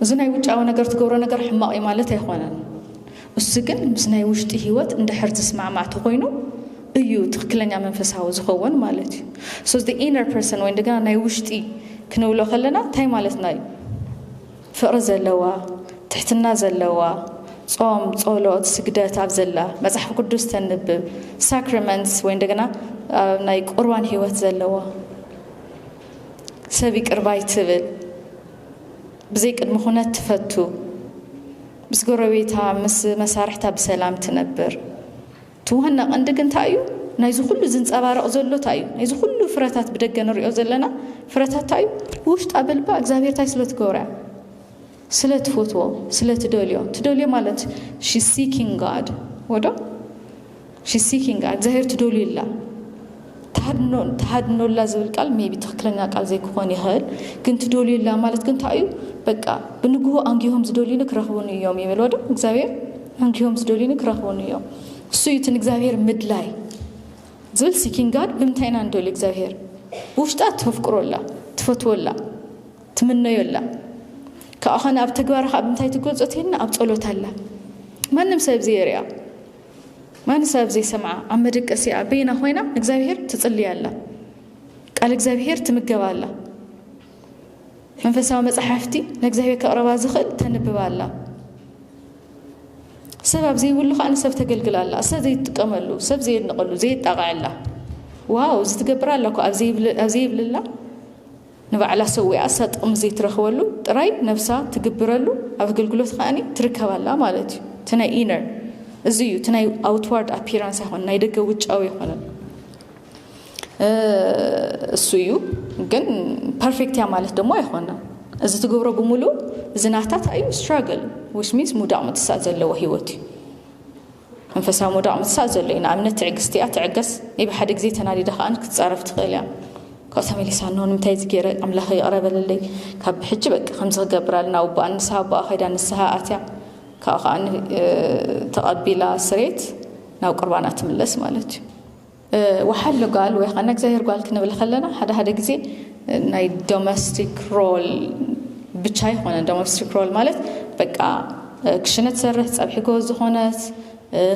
እዚ ናይ ውጫዊ ነገር ትገብሮ ነገር ሕማቕ እዩ ማለት ኣይኮነን እሱ ግን ምስ ናይ ውሽጢ ህይወት እንድሕር ዝስማዕማዕ ተኮይኑ እዩ ትክክለኛ መንፈሳዊ ዝኸውን ማለት እዩ ሶ ኢነር ፐርሰን ወይ እንደገና ናይ ውሽጢ ክንብሎ ከለና እንታይ ማለትና እዩ ፍቕሪ ዘለዋ፣ ትሕትና ዘለዋ፣ ጾም፣ ጸሎት፣ ስግደት ኣብ ዘላ፣ መጽሓፍ ቅዱስ ተንብብ፣ ሳክራመንትስ ወይ እንደገና ኣብ ናይ ቁርባን ህይወት ዘለዋ፣ ሰብ ይቅር ባይ ትብል፣ ብዘይ ቅድሚ ኩነት ትፈቱ፣ ምስ ጎረቤታ ምስ መሳርሕታ ብሰላም ትነብር፣ እቲ ዋና ቀንዲ ግን ታይ እዩ ናይዚ ኩሉ ዝንጸባረቅ ዘሎ ታይ እዩ ናይዚ ኩሉ ፍረታት ብደገ ንሪኦ ዘለና ፍረታት ታይ እዩ ብውሽጣ ብልባ እግዚኣብሄር ታይ ስለ ትገብሮ እያ ስለ ትፈትዎ ስለ ትደልዮ ትደልዮ ማለት ሺ ሲኪንግ ጋድ ወዶ ሺ ሲኪንግ ጋድ እግዚኣብሄር ትደልዩ ኣላ ትሃድኖ ትሃድኖላ ዝብል ቃል ሜይቢ ትኽክለኛ ቃል ዘይክኾን ይኽእል ግን ትዶልዩላ ማለት ግን እንታይ እዩ በቃ ብንግሁ ኣንጊሆም ዝዶልዩኒ ክረኽቡኒ እዮም ይበልዎ ዶ እግዚኣብሔር ኣንጊሆም ዝዶልዩኒ ክረኽቡኒ እዮም እሱ እዩ እቲ ንእግዚኣብሔር ምድላይ ዝብል ሲኪንግ ጋድ ብምንታይ ኢና ንደልዩ እግዚኣብሔር ብውሽጣ ተፍቅሮላ ትፈትወላ ትምነዮላ ካብኡ ኸነ ኣብ ተግባር ኸዓ ብምንታይ ትገልፆ ተይልና ኣብ ፀሎት ኣላ ማንም ሰብ ዘይርያ ማንም ሰብ ዘይሰምዓ ኣብ መደቀሲኣ በይና ኮይና ንእግዚኣብሄር ትጽልይ ኣላ። ቃል እግዚኣብሄር ትምገብ ኣላ። መንፈሳዊ መጻሕፍቲ ንእግዚኣብሄር ከቕረባ ዝኽእል ተንብብ ኣላ። ሰብ ኣብ ዘይብሉ ከዓ ንሰብ ተገልግል ኣላ። ሰብ ዘይትጥቀመሉ፣ ሰብ ዘየድንቐሉ፣ ዘየጣቕዐላ ዋው እዚ ትገብር ኣላ እኮ ኣብ ዘይብልላ ንባዕላ ሰዊኣ እሳ ጥቕሚ ዘይትረኽበሉ ጥራይ ነብሳ ትግብረሉ ኣብ ኣገልግሎት ከኣ ትርከብ ኣላ ማለት እዩ እቲ ናይ ኢነር እዚ እዩ እቲ ናይ ኣውትዋርድ ኣፒራንስ ኣይኮነ ናይ ደገ ውጫዊ ኣይኮነን እሱ እዩ ግን ፐርፌክት እያ ማለት ደግሞ ኣይኮነን እዚ ትገብሮ ብምሉእ እዚ ናታት እዩ ስትራግል ዊች ሚንስ ሙዳቕ ምትሳእ ዘለዎ ህይወት እዩ መንፈሳዊ ምውዳቕ ምትሳእ ዘሎ እዩ። ንኣብነት ትዕግስቲ እያ፣ ትዕገስ፣ ናይ ብሓደ ግዜ ተናዲዳ ከኣ ክትጻረፍ ትኽእል እያ። ካብኡ ተመሊሳ ኖ ንምንታይ እዚ ገይረ ኣምላኸይ ይቕረ በለለይ፣ ካብ ብሕጂ በቃ ከምዚ ክገብር ኣለኒ፣ ኣብ ኣቦኣ ንስሃ ኣቦኣ ከይዳ ንስሃ ኣትያ ካብኡ ከኣ ተቐቢላ ስሬት ናብ ቁርባና ትምለስ ማለት እዩ። ወሓለ ጓል ወይ ከዓ ነግዛሄር ጓል ክንብል ከለና ሓደ ሓደ ግዜ ናይ ዶሜስቲክ ሮል ብቻ ኣይኮነን። ዶሜስቲክ ሮል ማለት በቃ ክሽነ ትሰርሕ ፀብሒ ጎበዝ ዝኾነት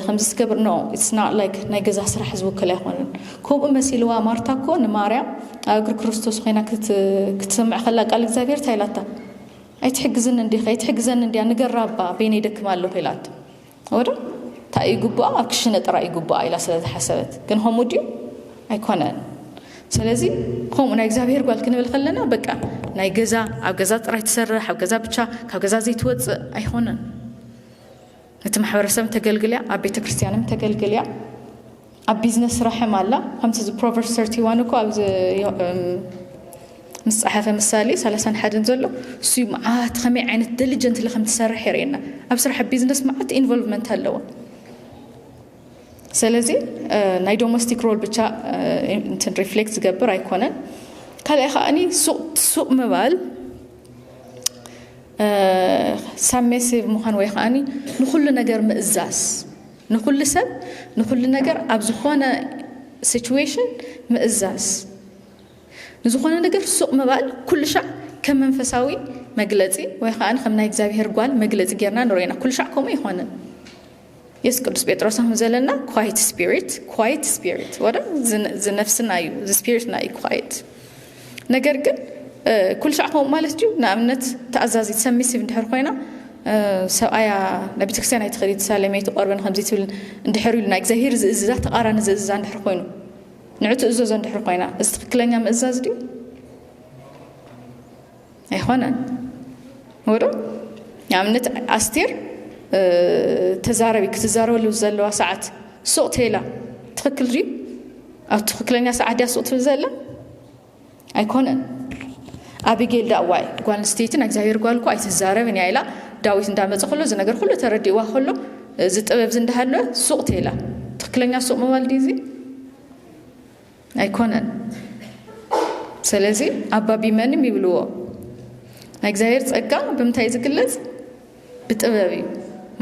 ከምዚ ትገብር ኖ ኢትስ ናት ላይክ ናይ ገዛ ስራሕ ዝውክል ኣይኮነን ከምኡ መሲልዋ ማርታ እኮ ንማርያም ኣብ እግሪ ክርስቶስ ኮይና ክትሰምዕ ከላ ቃል እግዚኣብሔር እንታይ ኢላታ ኣይትሕግዝን እንዲኺ ኣይትሕግዘን እንዲያ ንገራ እባ በይነይ ደክም ኣለኹ ኢላቶ ወደ እንታይ ይግብኣ ኣብ ክሽነ ጥራይ ይግብኣ ኢላ ስለ ዝሓሰበት ግን ከምኡ ድዩ ኣይኮነን ስለዚ ከምኡ ናይ እግዚኣብሄር ጓል ክንብል ከለና በቃ ናይ ገዛ ኣብ ገዛ ጥራይ ትሰርሕ ኣብ ገዛ ብቻ ካብ ገዛ ዘይትወፅእ ኣይኮነን እቲ ማሕበረሰብ ተገልግልያ ኣብ ቤተ ክርስትያንም ተገልግልያ ኣብ ቢዝነስ ስራሕም ኣላ ከምቲ እዚ ፕሮቨርስ ሰርቲ ዋን እኮ ኣብዚ ምስ ፀሓፈ ምሳሌ ሰላሳን ሓደን ዘሎ እሱዩ መዓት ከመይ ዓይነት ደሊጀንትሊ ከም ትሰርሕ የርእየና ኣብ ስራሕ ቢዝነስ መዓት ኢንቮልቭመንት ኣለዎ ስለዚ ናይ ዶሜስቲክ ሮል ብቻ እንትን ሪፍሌክት ዝገብር ኣይኮነን ካልኣይ ከዓኒ ሱቅ ምባል ሳሜሲቭ ምዃን ወይ ከዓኒ ንኩሉ ነገር ምእዛዝ ንኹሉ ሰብ ንኹሉ ነገር ኣብ ዝኾነ ሲቹዌሽን ምእዛዝ፣ ንዝኾነ ነገር ሱቕ ምባል ኩሉሻዕ ከም መንፈሳዊ መግለጺ ወይ ከኣ ከም ናይ እግዚኣብሄር ጓል መግለጺ ጌርና ንሪኦ ኢና። ኩሉሻዕ ከምኡ ኣይኮነን። የሱስ ቅዱስ ጴጥሮስ ኣሁን ዘለና ኳይት ስፒሪት ኳይት ስፒሪት ወረ ዝነፍስና እዩ ዝስፒሪትና እዩ ኳይት ነገር ግን ኩሉ ሻዕ ከምኡ ማለት ድዩ? ንኣብነት ተኣዛዚት ሰሚሲቭ እንድሕር ኮይና ሰብኣያ ናብ ቤተክርስትያን ኣይትኸዲ ትሳለመይ ትቆርበን ከምዚ ትብል እንድሕር ኢሉ ናይ እግዚኣብሄር ዝእዝዛ ተቃራኒ ዝእዝዛ እንድሕር ኮይኑ ንዑ ትእዘዞ እንድሕር ኮይና እዚ ትክክለኛ ምእዛዝ ድዩ? ኣይኾነን ወዶ ንኣብነት ኣስቴር ተዛረቢ ክትዛረበሉ ዘለዋ ሰዓት ሱቕ ተይላ ትኽክል ድዩ ኣብ ትኽክለኛ ሰዓት ድያ ሱቕ ትብል ዘላ ኣይኮነን ኣቢጌል ዳእ ዋይ ጓል ኣንስተይቲ ናይ እግዚኣብሔር ጓል እኮ ኣይትዛረብን እያ ኢላ ዳዊት እንዳመፀ ከሎ እዚ ነገር ኩሉ ተረዲእዋ ከሎ እዚ ጥበብ እዚ እንዳሃለወ ሱቕ ተይላ ትክክለኛ ሱቕ ምባል ድዩ እዚ ኣይኮነን ሰለዚ ኣባ ቢመንም ይብልዎ ናይ እግዚኣብሔር ጸጋ ብምንታይ እዩ ዝግለጽ ብጥበብ እዩ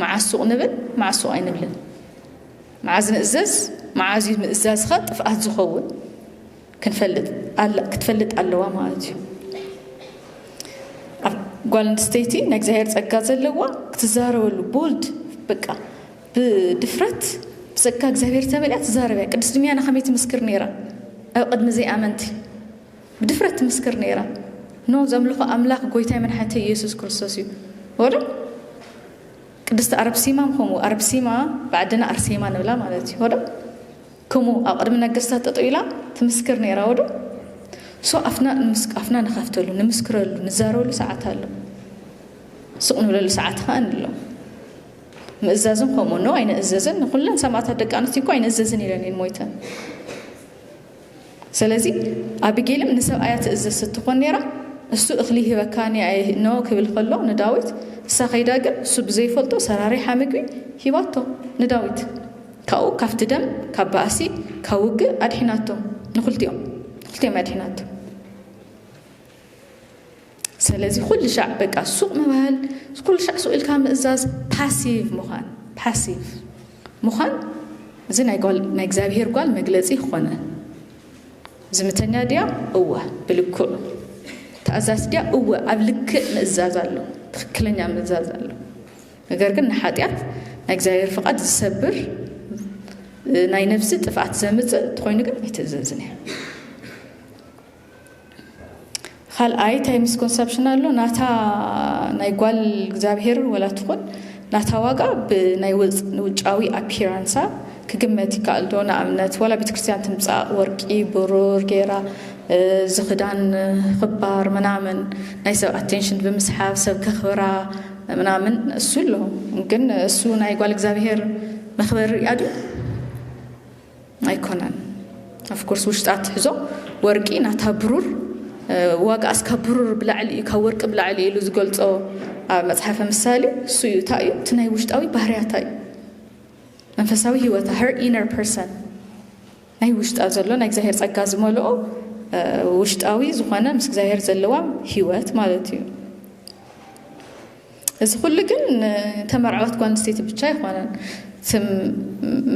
መዓዝ ሱቕ ንብል መዓዝ ሱቕ ኣይንብልን መዓዝ ንእዘዝ መዓዝ እዩ ምእዛዝኻ ጥፍኣት ዝኸውን ክንፈልጥ ክትፈልጥ ኣለዋ ማለት እዩ ጓል ኣንስተይቲ ናይ እግዚኣብሔር ጸጋ ዘለዋ ክትዛረበሉ ቦልድ በቃ ብድፍረት ብጸጋ እግዚኣብሔር ተመሊኣ ትዛረብ እያ። ቅድስት ድሚያና ከመይ ትምስክር ነይራ? ኣብ ቅድሚ ዘይኣመንቲ ብድፍረት ትምስክር ነይራ። ኖ ዘምልኾ ኣምላኽ ጎይታይ መድሓኒተይ ኢየሱስ ክርስቶስ እዩ ወዶ ቅድስቲ ኣርብሲማ ከምኡ ኣርብሲማ ብዓድና ኣርሴማ ንብላ ማለት እዩ ወዶ ከምኡ ኣብ ቅድሚ ነገስታት ጠጠው ኢላ ትምስክር ነይራ ወዶ ሶ ኣፍና ኣፍና ንኸፍተሉ ንምስክረሉ ንዛረበሉ ሰዓት ኣሎ ስቕ ንብለሉ ሰዓት ኸኣ ንሎ ምእዛዝን ከምኡ ን ኣይንእዘዝን ንኩለን ሰማእታት ደቂ ኣንስትዮ እኮ ኣይንእዘዝን ኢለን እየን ሞይተን ስለዚ ኣቢጌልም ንሰብኣያ ትእዘዝ ስትኾን ነይራ እሱ እኽሊ ሂበካኒ ኖ ክብል ከሎ ንዳዊት እሳ ከይዳ ግን እሱ ብዘይፈልጦ ሰራሪሓ ምግቢ ሂባቶ ንዳዊት ካብኡ ካብቲ ደም ካብ ባእሲ ካብ ውግእ ኣድሒናቶ ንክልቲኦም ንክልቲኦም ኣድሒናቶ ሰለዚ ኩሉ ሻዕ በቃ ሱቕ ምባል ኩሉ ሻዕ ሱቕ ኢልካ ምእዛዝ ፓሲቭ ምዃን ፓሲቭ ምዃን እዚ ናይ ጓል ናይ እግዚኣብሄር ጓል መግለጺ ኾነ ዝምተኛ ድያ እወ ብልክዑ ተኣዛዝ ድያ እወ ኣብ ልክእ ምእዛዝ ኣሎ ትክክለኛ ምእዛዝ ኣሎ ነገር ግን ንሓጢኣት ናይ እግዚኣብሄር ፍቓድ ዝሰብር ናይ ነፍሲ ጥፍኣት ዘምፅእ እንተኾይኑ ግን ኣይትእዘዝን እያ ካልኣይ እንታይ ምስኮንሰፕሽን ኣሎ ናታ ናይ ጓል እግዚኣብሄር ወላ ትኹን ናታ ዋጋ ብናይ ውጫዊ ኣፒራንሳ ክግመት ይከኣል ዶ ንኣብነት ዋላ ቤተ ክርስቲያን ትምፃእ ወርቂ ብሩር ጌራ እዚ ክዳን ክባር ምናምን ናይ ሰብ ኣቴንሽን ብምስሓብ ሰብ ከኽብራ ምናምን እሱ ኣሎ ግን እሱ ናይ ጓል እግዚኣብሄር መኽበሪ እያ ድዩ ኣይኮነን ኣፍኮርስ ውሽጣ ትሕዞ ወርቂ ናታ ብሩር ዋጋ ኣስካ ብሩር ብላዕሊ እዩ ካብ ወርቂ ብላዕሊ ኢሉ ዝገልፆ ኣብ መፅሓፈ ምሳሌ እሱ እዩ እንታይ እዩ እቲ ናይ ውሽጣዊ ባህርያታ እዩ መንፈሳዊ ህይወታ ሄር ኢነር ፐርሰን ናይ ውሽጣ ዘሎ ናይ እግዚኣብሔር ጸጋ ዝመልኦ ውሽጣዊ ዝኾነ ምስ እግዚኣብሔር ዘለዋ ህይወት ማለት እዩ እዚ ኩሉ ግን ንተመርዓወት ጓል ኣንስተይቲ ብቻ ኣይኮነን። ትም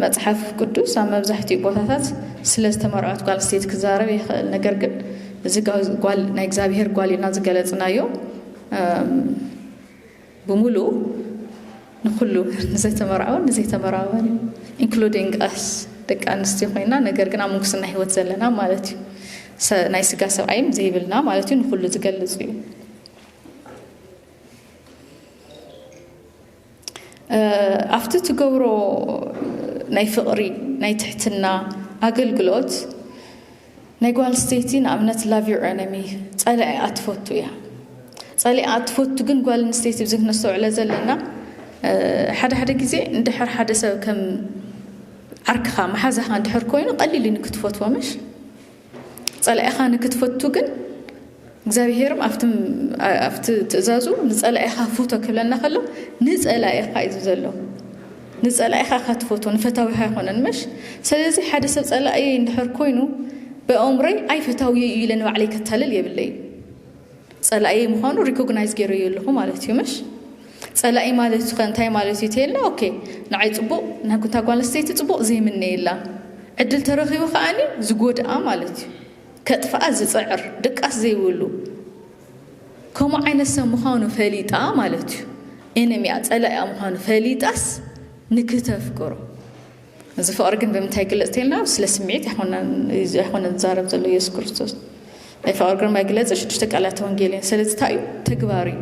መጽሓፍ ቅዱስ ኣብ መብዛሕትኡ ቦታታት ስለ ዝተመርዐወት ጓል ኣንስተይቲ ክዛረብ ይኽእል። ነገር ግን እዚ ጓል ናይ እግዚኣብሔር ጓል ኢልና ዝገለጽናዮ ብምሉኡ ንኩሉ ንዘተመርዓወን ንዘይተመርዓወን እዩ ኢንክሉዲንግ ኣስ ደቂ ኣንስትዮ ኮይና ነገር ግን ኣብ ምንኩስና ህይወት ዘለና ማለት እዩ ናይ ስጋ ሰብኣይም ዘይብልና ማለት እዩ ንኩሉ ዝገልጽ እዩ ኣብቲ ትገብሮ ናይ ፍቕሪ ናይ ትሕትና ኣገልግሎት ናይ ጓል ስተይቲ ንኣብነት ላቭ ዩር ኤነሚ ጸላኢኣ ትፈቱ እያ ጸሊኣ ትፈቱ ግን ጓል ኣንስተይቲ ብዚ ክነስተውዕለ ዘለና ሓደ ሓደ ግዜ እንድሕር ሓደ ሰብ ከም ዓርክኻ መሓዛኻ እንድሕር ኮይኑ ቀሊል እዩ ንክትፈትዎ ምሽ ጸላኢኻ ንክትፈቱ ግን እግዚኣብሄርም ኣብቲ ትእዛዙ ንጸላኢኻ ፍቶ ክብለና ከሎ ንጸላኢኻ እዩ ዘሎ ንጸላኢኻ እኻ ትፈቶ ንፈታዊኻ ኣይኮነን መሽ ስለዚ ሓደ ሰብ ጸላኢ እንድሕር ኮይኑ ብኣእምሮይ ኣይፈታዊ እዩ ኢለ ንባዕለይ ከታልል የብለይ ጸላኢየይ ምዃኑ ሪኮግናይዝ ጌረዮ ኣለኹ ማለት እዩ ምሽ? ጸላኢ ማለት ከ እንታይ ማለት እዩ ተይልና ኦኬ ንዓይ ጽቡቕ ንታ ጓል ኣንስተይቲ ጽቡቕ ዘይምነየላ ዕድል ተረኺቡ ከኣኒ ዝጎድኣ ማለት እዩ ከጥፍኣ ዝጽዕር ድቃስ ዘይብሉ ከምኡ ዓይነት ሰብ ምዃኑ ፈሊጣ ማለት እዩ ኤነሚኣ ጸላኢኣ ምዃኑ ፈሊጣስ ንክተፍቅሮ እዚ ፍቕሪ ግን ብምንታይ ይግለጽ ተልና ስለ ስምዒት ኣይኮነ ዝዛረብ ዘሎ ኢየሱስ ክርስቶስ ናይ ፍቕሪ ግን መግለጺ ሽዱሽተ ቃላት ወንጌል እየን ስለዚ እንታይ እዩ ተግባር እዩ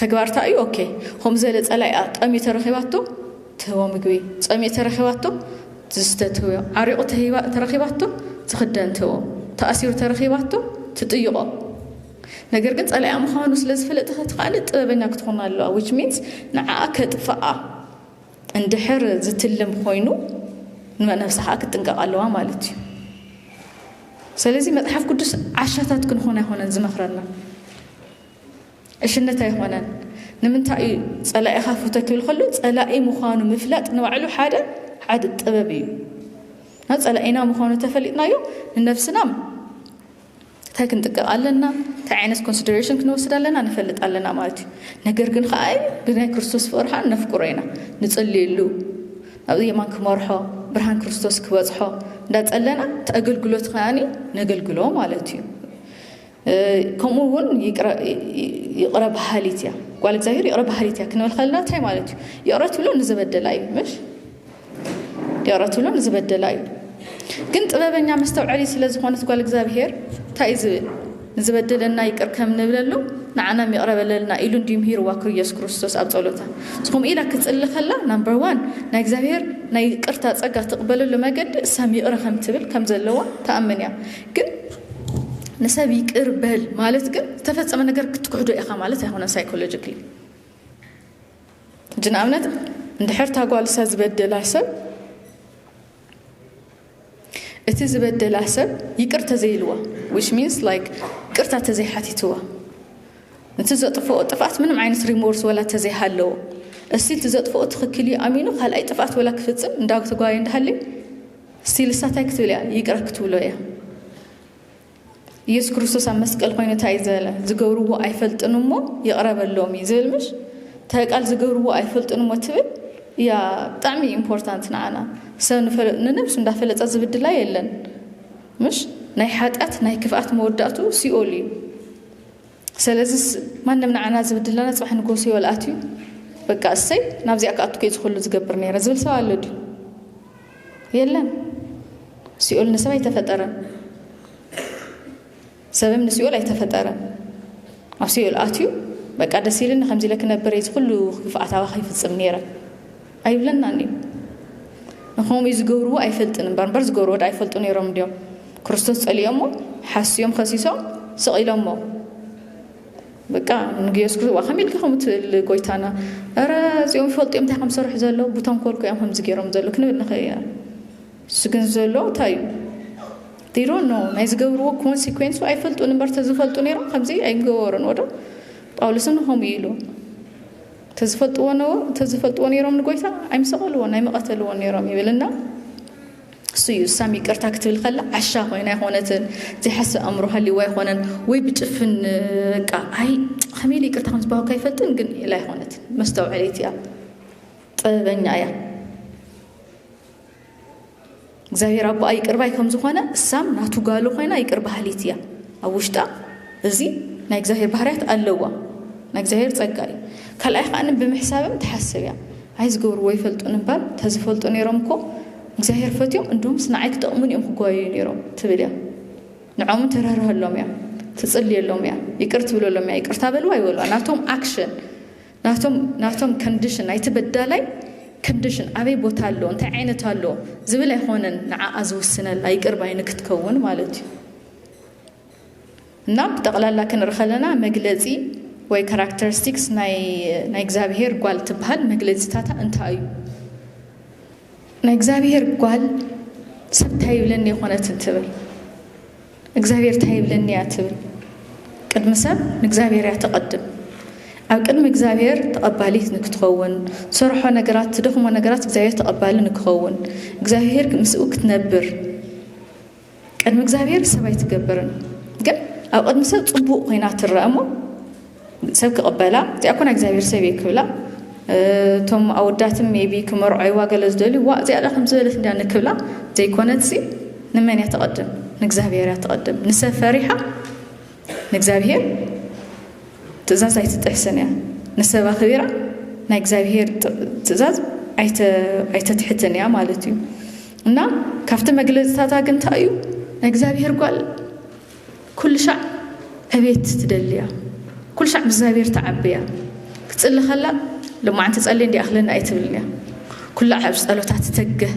ተግባር እንታይ እዩ ኦኬ ከምኡ ዘለ ጸላኢ ጠምዩ ተረኺባቶ ትህቦ ምግቢ ጸምዩ ተረኺባቶ ዝስተ ትህቦ ዓሪቑ ተረኺባቶ ትኽደን ትህቦ ተኣሲሩ ተረኺባቶ ትጥይቖ ነገር ግን ጸላኢ ምዃኑ ስለ ዝፈለጥኸ ትኸኣለ ጥበበኛ ክትኾን ኣለዋ ዊች ሚንስ ንዓኣ ከጥፍኣ እንድሕር ዝትልም ኮይኑ ንነብሳ ከዓ ክትጥንቀቕ ኣለዋ ማለት እዩ ስለዚ መፅሓፍ ቅዱስ ዓሻታት ክንኾን ኣይኮነን ዝመኽረና ዕሽነት ኣይኮነን ንምንታይ እዩ ፀላኢኻ ፍቶ ክብል ከሎ ፀላኢ ምዃኑ ምፍላጥ ንባዕሉ ሓደ ሓደ ጥበብ እዩ ፀላኢና ምዃኑ ተፈሊጥናዮ ንነብስና እንታይ ክንጥቅቕ ኣለና፣ እንታይ ዓይነት ኮንሲደሬሽን ክንወስድ ኣለና ንፈልጥ ኣለና ማለት እዩ። ነገር ግን ከኣ ብናይ ክርስቶስ ፍቕሪ ከኣ ነፍቅሮ ኢና፣ ንጽልየሉ፣ ናብዚ የማን ክመርሖ፣ ብርሃን ክርስቶስ ክበጽሖ እንዳጸለና እቲ ኣገልግሎት ከኣ ነገልግሎ ማለት እዩ። ከምኡ እውን ይቕረ በሃሊት እያ ጓል እግዚኣብሔር ይቕረ በሃሊት እያ ክንብል ከለና እንታይ ማለት እዩ? ይቕረ ትብሎ ንዘበደላ እዩ ምሽ ያራቱላ ንዝበደላ እዩ ግን ጥበበኛ መስተውዐሊ ስለ ዝኾነት ጓል እግዚኣብሄር እንታይ እዩ ዝብል ንዝበደለና ይቅር ከም ንብለሉ ንዓናም ይቕረበለልና ኢሉ እንድዩ ምሂርዋ ክርስቶስ ክርስቶስ ኣብ ጸሎታ ዝኾም ኢላ ክጽሊ ከላ ናምበር ዋን ናይ እግዚኣብሄር ናይ ቅርታ ጸጋ ትቕበለሉ መገዲ እሳም ይቕረ ከም ትብል ከም ዘለዋ ተኣምን እያ ግን ንሰብ ይቅር በል ማለት ግን ዝተፈጸመ ነገር ክትክሕዶ ኢኻ ማለት ኣይኮነን ሳይኮሎጂካሊ ሕጂ ንኣብነት እንድሕር እታ ጓል እሳ ዝበደላ ሰብ እቲ ዝበደላ ሰብ ይቅር ተዘይልዋ ዊች ሚንስ ላይክ ቅርታ ተዘይሓቲትዋ ነቲ ዘጥፍኦ ጥፍኣት ምንም ዓይነት ሪሞርስ ወላ ተዘይሃለዎ እስቲል እቲ ዘጥፍኦ ትኽክል እዩ ኣሚኑ ካልኣይ ጥፍኣት ወላ ክፍፅም እንዳ ተጓየ እንዳሃልዩ እስቲል እሳታይ ክትብል እያ ይቅረ ክትብሎ እያ ኢየሱስ ክርስቶስ ኣብ መስቀል ኮይኑ እንታይ ዝበለ ዝገብርዎ ኣይፈልጥን እሞ ይቕረ በሎም እዩ ዝብል ምሽ እንታይ ቃል ዝገብርዎ ኣይፈልጥን እሞ ትብል እያ ብጣዕሚ ኢምፖርታንት ንዓና ሰብ ንነብሱ እንዳፈለጠ ዝብድላ የለን ምሽ ናይ ሓጢኣት ናይ ክፍኣት መወዳእቱ ሲኦል እዩ ስለዚ ማንም ንዓና ዝብድለና ፅባሕ ንጎ ሲኦል ኣትዩ በቃ እሰይ ናብዚኣ ክኣቱ ከይ ዝኽሉ ዝገብር ነይረ ዝብል ሰብ ኣሎ ድዩ የለን ሲኦል ንሰብ ኣይተፈጠረን ሰብም ንሲኦል ኣይተፈጠረን ኣብ ሲኦል ኣትዩ በቃ ደስ ኢልኒ ከምዚ ኢለ ክነብር እዚ ኩሉ ክፍኣት ኣባኺ ይፍፅም ነይረ ኣይብለናን እዩ ንከምኡ እዩ ዝገብርዎ ኣይፈልጥን እምበር እምበር ዝገብርዎ ዳ ኣይፈልጡ ነይሮም እንዲዮም ክርስቶስ ፀሊኦሞ ሓስዮም ከሲሶም ስቕ ኢሎሞ በቃ ንግዮስ ክህዋ ከመይ ኢልካ ከምኡ ትብል ጎይታና እረ እዚኦም ይፈልጡ እዮም እንታይ ከም ዝሰርሑ ዘለዉ ብተንኮል ኮዮም ከምዚ ገይሮም ዘለዉ ክንብል ንኽእል ኢና እሱ ግን ዘሎ እንታይ እዩ ዲሮ ኖ ናይ ዝገብርዎ ኮንሲኮንሱ ኣይፈልጡን እምበር ተዝፈልጡ ነይሮም ከምዚ ኣይገበሩን ወዶ ጳውሎስን ንኸምኡ ኢሉ ተዝፈልጥዎ ነይሮም ንጎይታ ኣይምሰቐልዎ ናይ መቐተልዎ ነይሮም ይብልና እሱ እዩ ሳም ይቅርታ ክትብል ከላ ዓሻ ኮይና ኣይኮነትን ዘይሓስብ ኣእምሮ ሃልይዎ ኣይኮነን ወይ ብጭፍን ቃ ኣይ ከመይ ኢለ ይቅርታ ከምዝባሃካ ይፈልጥን ግን ኢላ ኣይኮነትን መስተውዐሊት እያ ጥበበኛ እያ እግዚኣብሔር ኣቦኣ ይቅርባይ ከም ዝኾነ እሳም ናቱ ጋሉ ኮይና ይቅር ባህሊት እያ ኣብ ውሽጣ እዚ ናይ እግዚኣብሔር ባህርያት ኣለዋ ናይ እግዚኣብሔር ፀጋ እዩ ካልኣይ ከዓኒ ብምሕሳብም ትሓስብ እያ ኣይዝገብርዎ ኣይፈልጡን እምበር ተዝፈልጡ ነይሮም እኮ እግዚኣብሄር ፈትዮም እንዶምስ ንዓይ ክጠቕሙኒ እዮም ክጓየዩ ነይሮም ትብል እያ ንዖምን ትርህርሀሎም እያ ትጽልየሎም እያ ይቅር ትብለሎም እያ ይቅርታ በልዋ ይበልዋ ናቶም ኣክሽን ናቶም ናቶም ኮንዲሽን ናይቲ በዳላይ ኮንዲሽን ኣበይ ቦታ ኣሎ እንታይ ዓይነት ኣሎ ዝብል ኣይኮነን ንዓኣ ዝውስነላ ይቅር ባይ ንክትከውን ማለት እዩ እና ብጠቅላላ ክንርኢ ከለና መግለጺ ወይ ካራክተሪስቲክስ ናይ ናይ እግዚኣብሄር ጓል ትበሃል መግለጺታታ እንታይ እዩ? ናይ እግዚኣብሄር ጓል ሰብ እንታይ ይብለኒ የኾነትን ትብል እግዚኣብሄር እንታይ ይብለኒ እያ ትብል ቅድሚ ሰብ ንእግዚኣብሄር እያ ተቐድም ኣብ ቅድሚ እግዚኣብሔር ተቐባሊት ንክትኸውን ትሰርሖ ነገራት ትደኽሞ ነገራት እግዚኣብሔር ተቐባሊ ንክኸውን እግዚኣብሔር ምስኡ ክትነብር ቅድሚ እግዚኣብሔር ሰብ ኣይትገብርን ግን ኣብ ቅድሚ ሰብ ጽቡቅ ኮይና ትረኣ እሞ ሰብ ክቕበላ እዚኣ እኮ ናይ እግዚኣብሔር ሰብ እየ ክብላ እቶም ኣወዳትም ሜቢ ክመርዖይዋ ገለ ዝደልዩ ዋ እዚኣ ዳ ከም ዝበለት እንዳ ንክብላ ዘይኮነትሲ ንመን እያ ተቐድም ንእግዚኣብሔር እያ ተቐድም ንሰብ ፈሪሓ ንእግዚኣብሔር ትእዛዝ ኣይትጥሕስን እያ ንሰብ ኣኽቢራ ናይ እግዚኣብሔር ትእዛዝ ኣይተትሕትን እያ ማለት እዩ እና ካብቲ መግለፅታታ ግን እንታይ እዩ ናይ እግዚኣብሔር ጓል ኩሉ ሻዕ ዕቤት ትደልያ ኩሉ ሻዕ ምስ እግዚኣብሔር ተዓብያ ክትፅሊ ከላ ልማዓንቲ ፀሊ እንዲ ኣክለኒ ኣይትብልን እያ ኩላ ኣብ ፀሎታ ትተግህ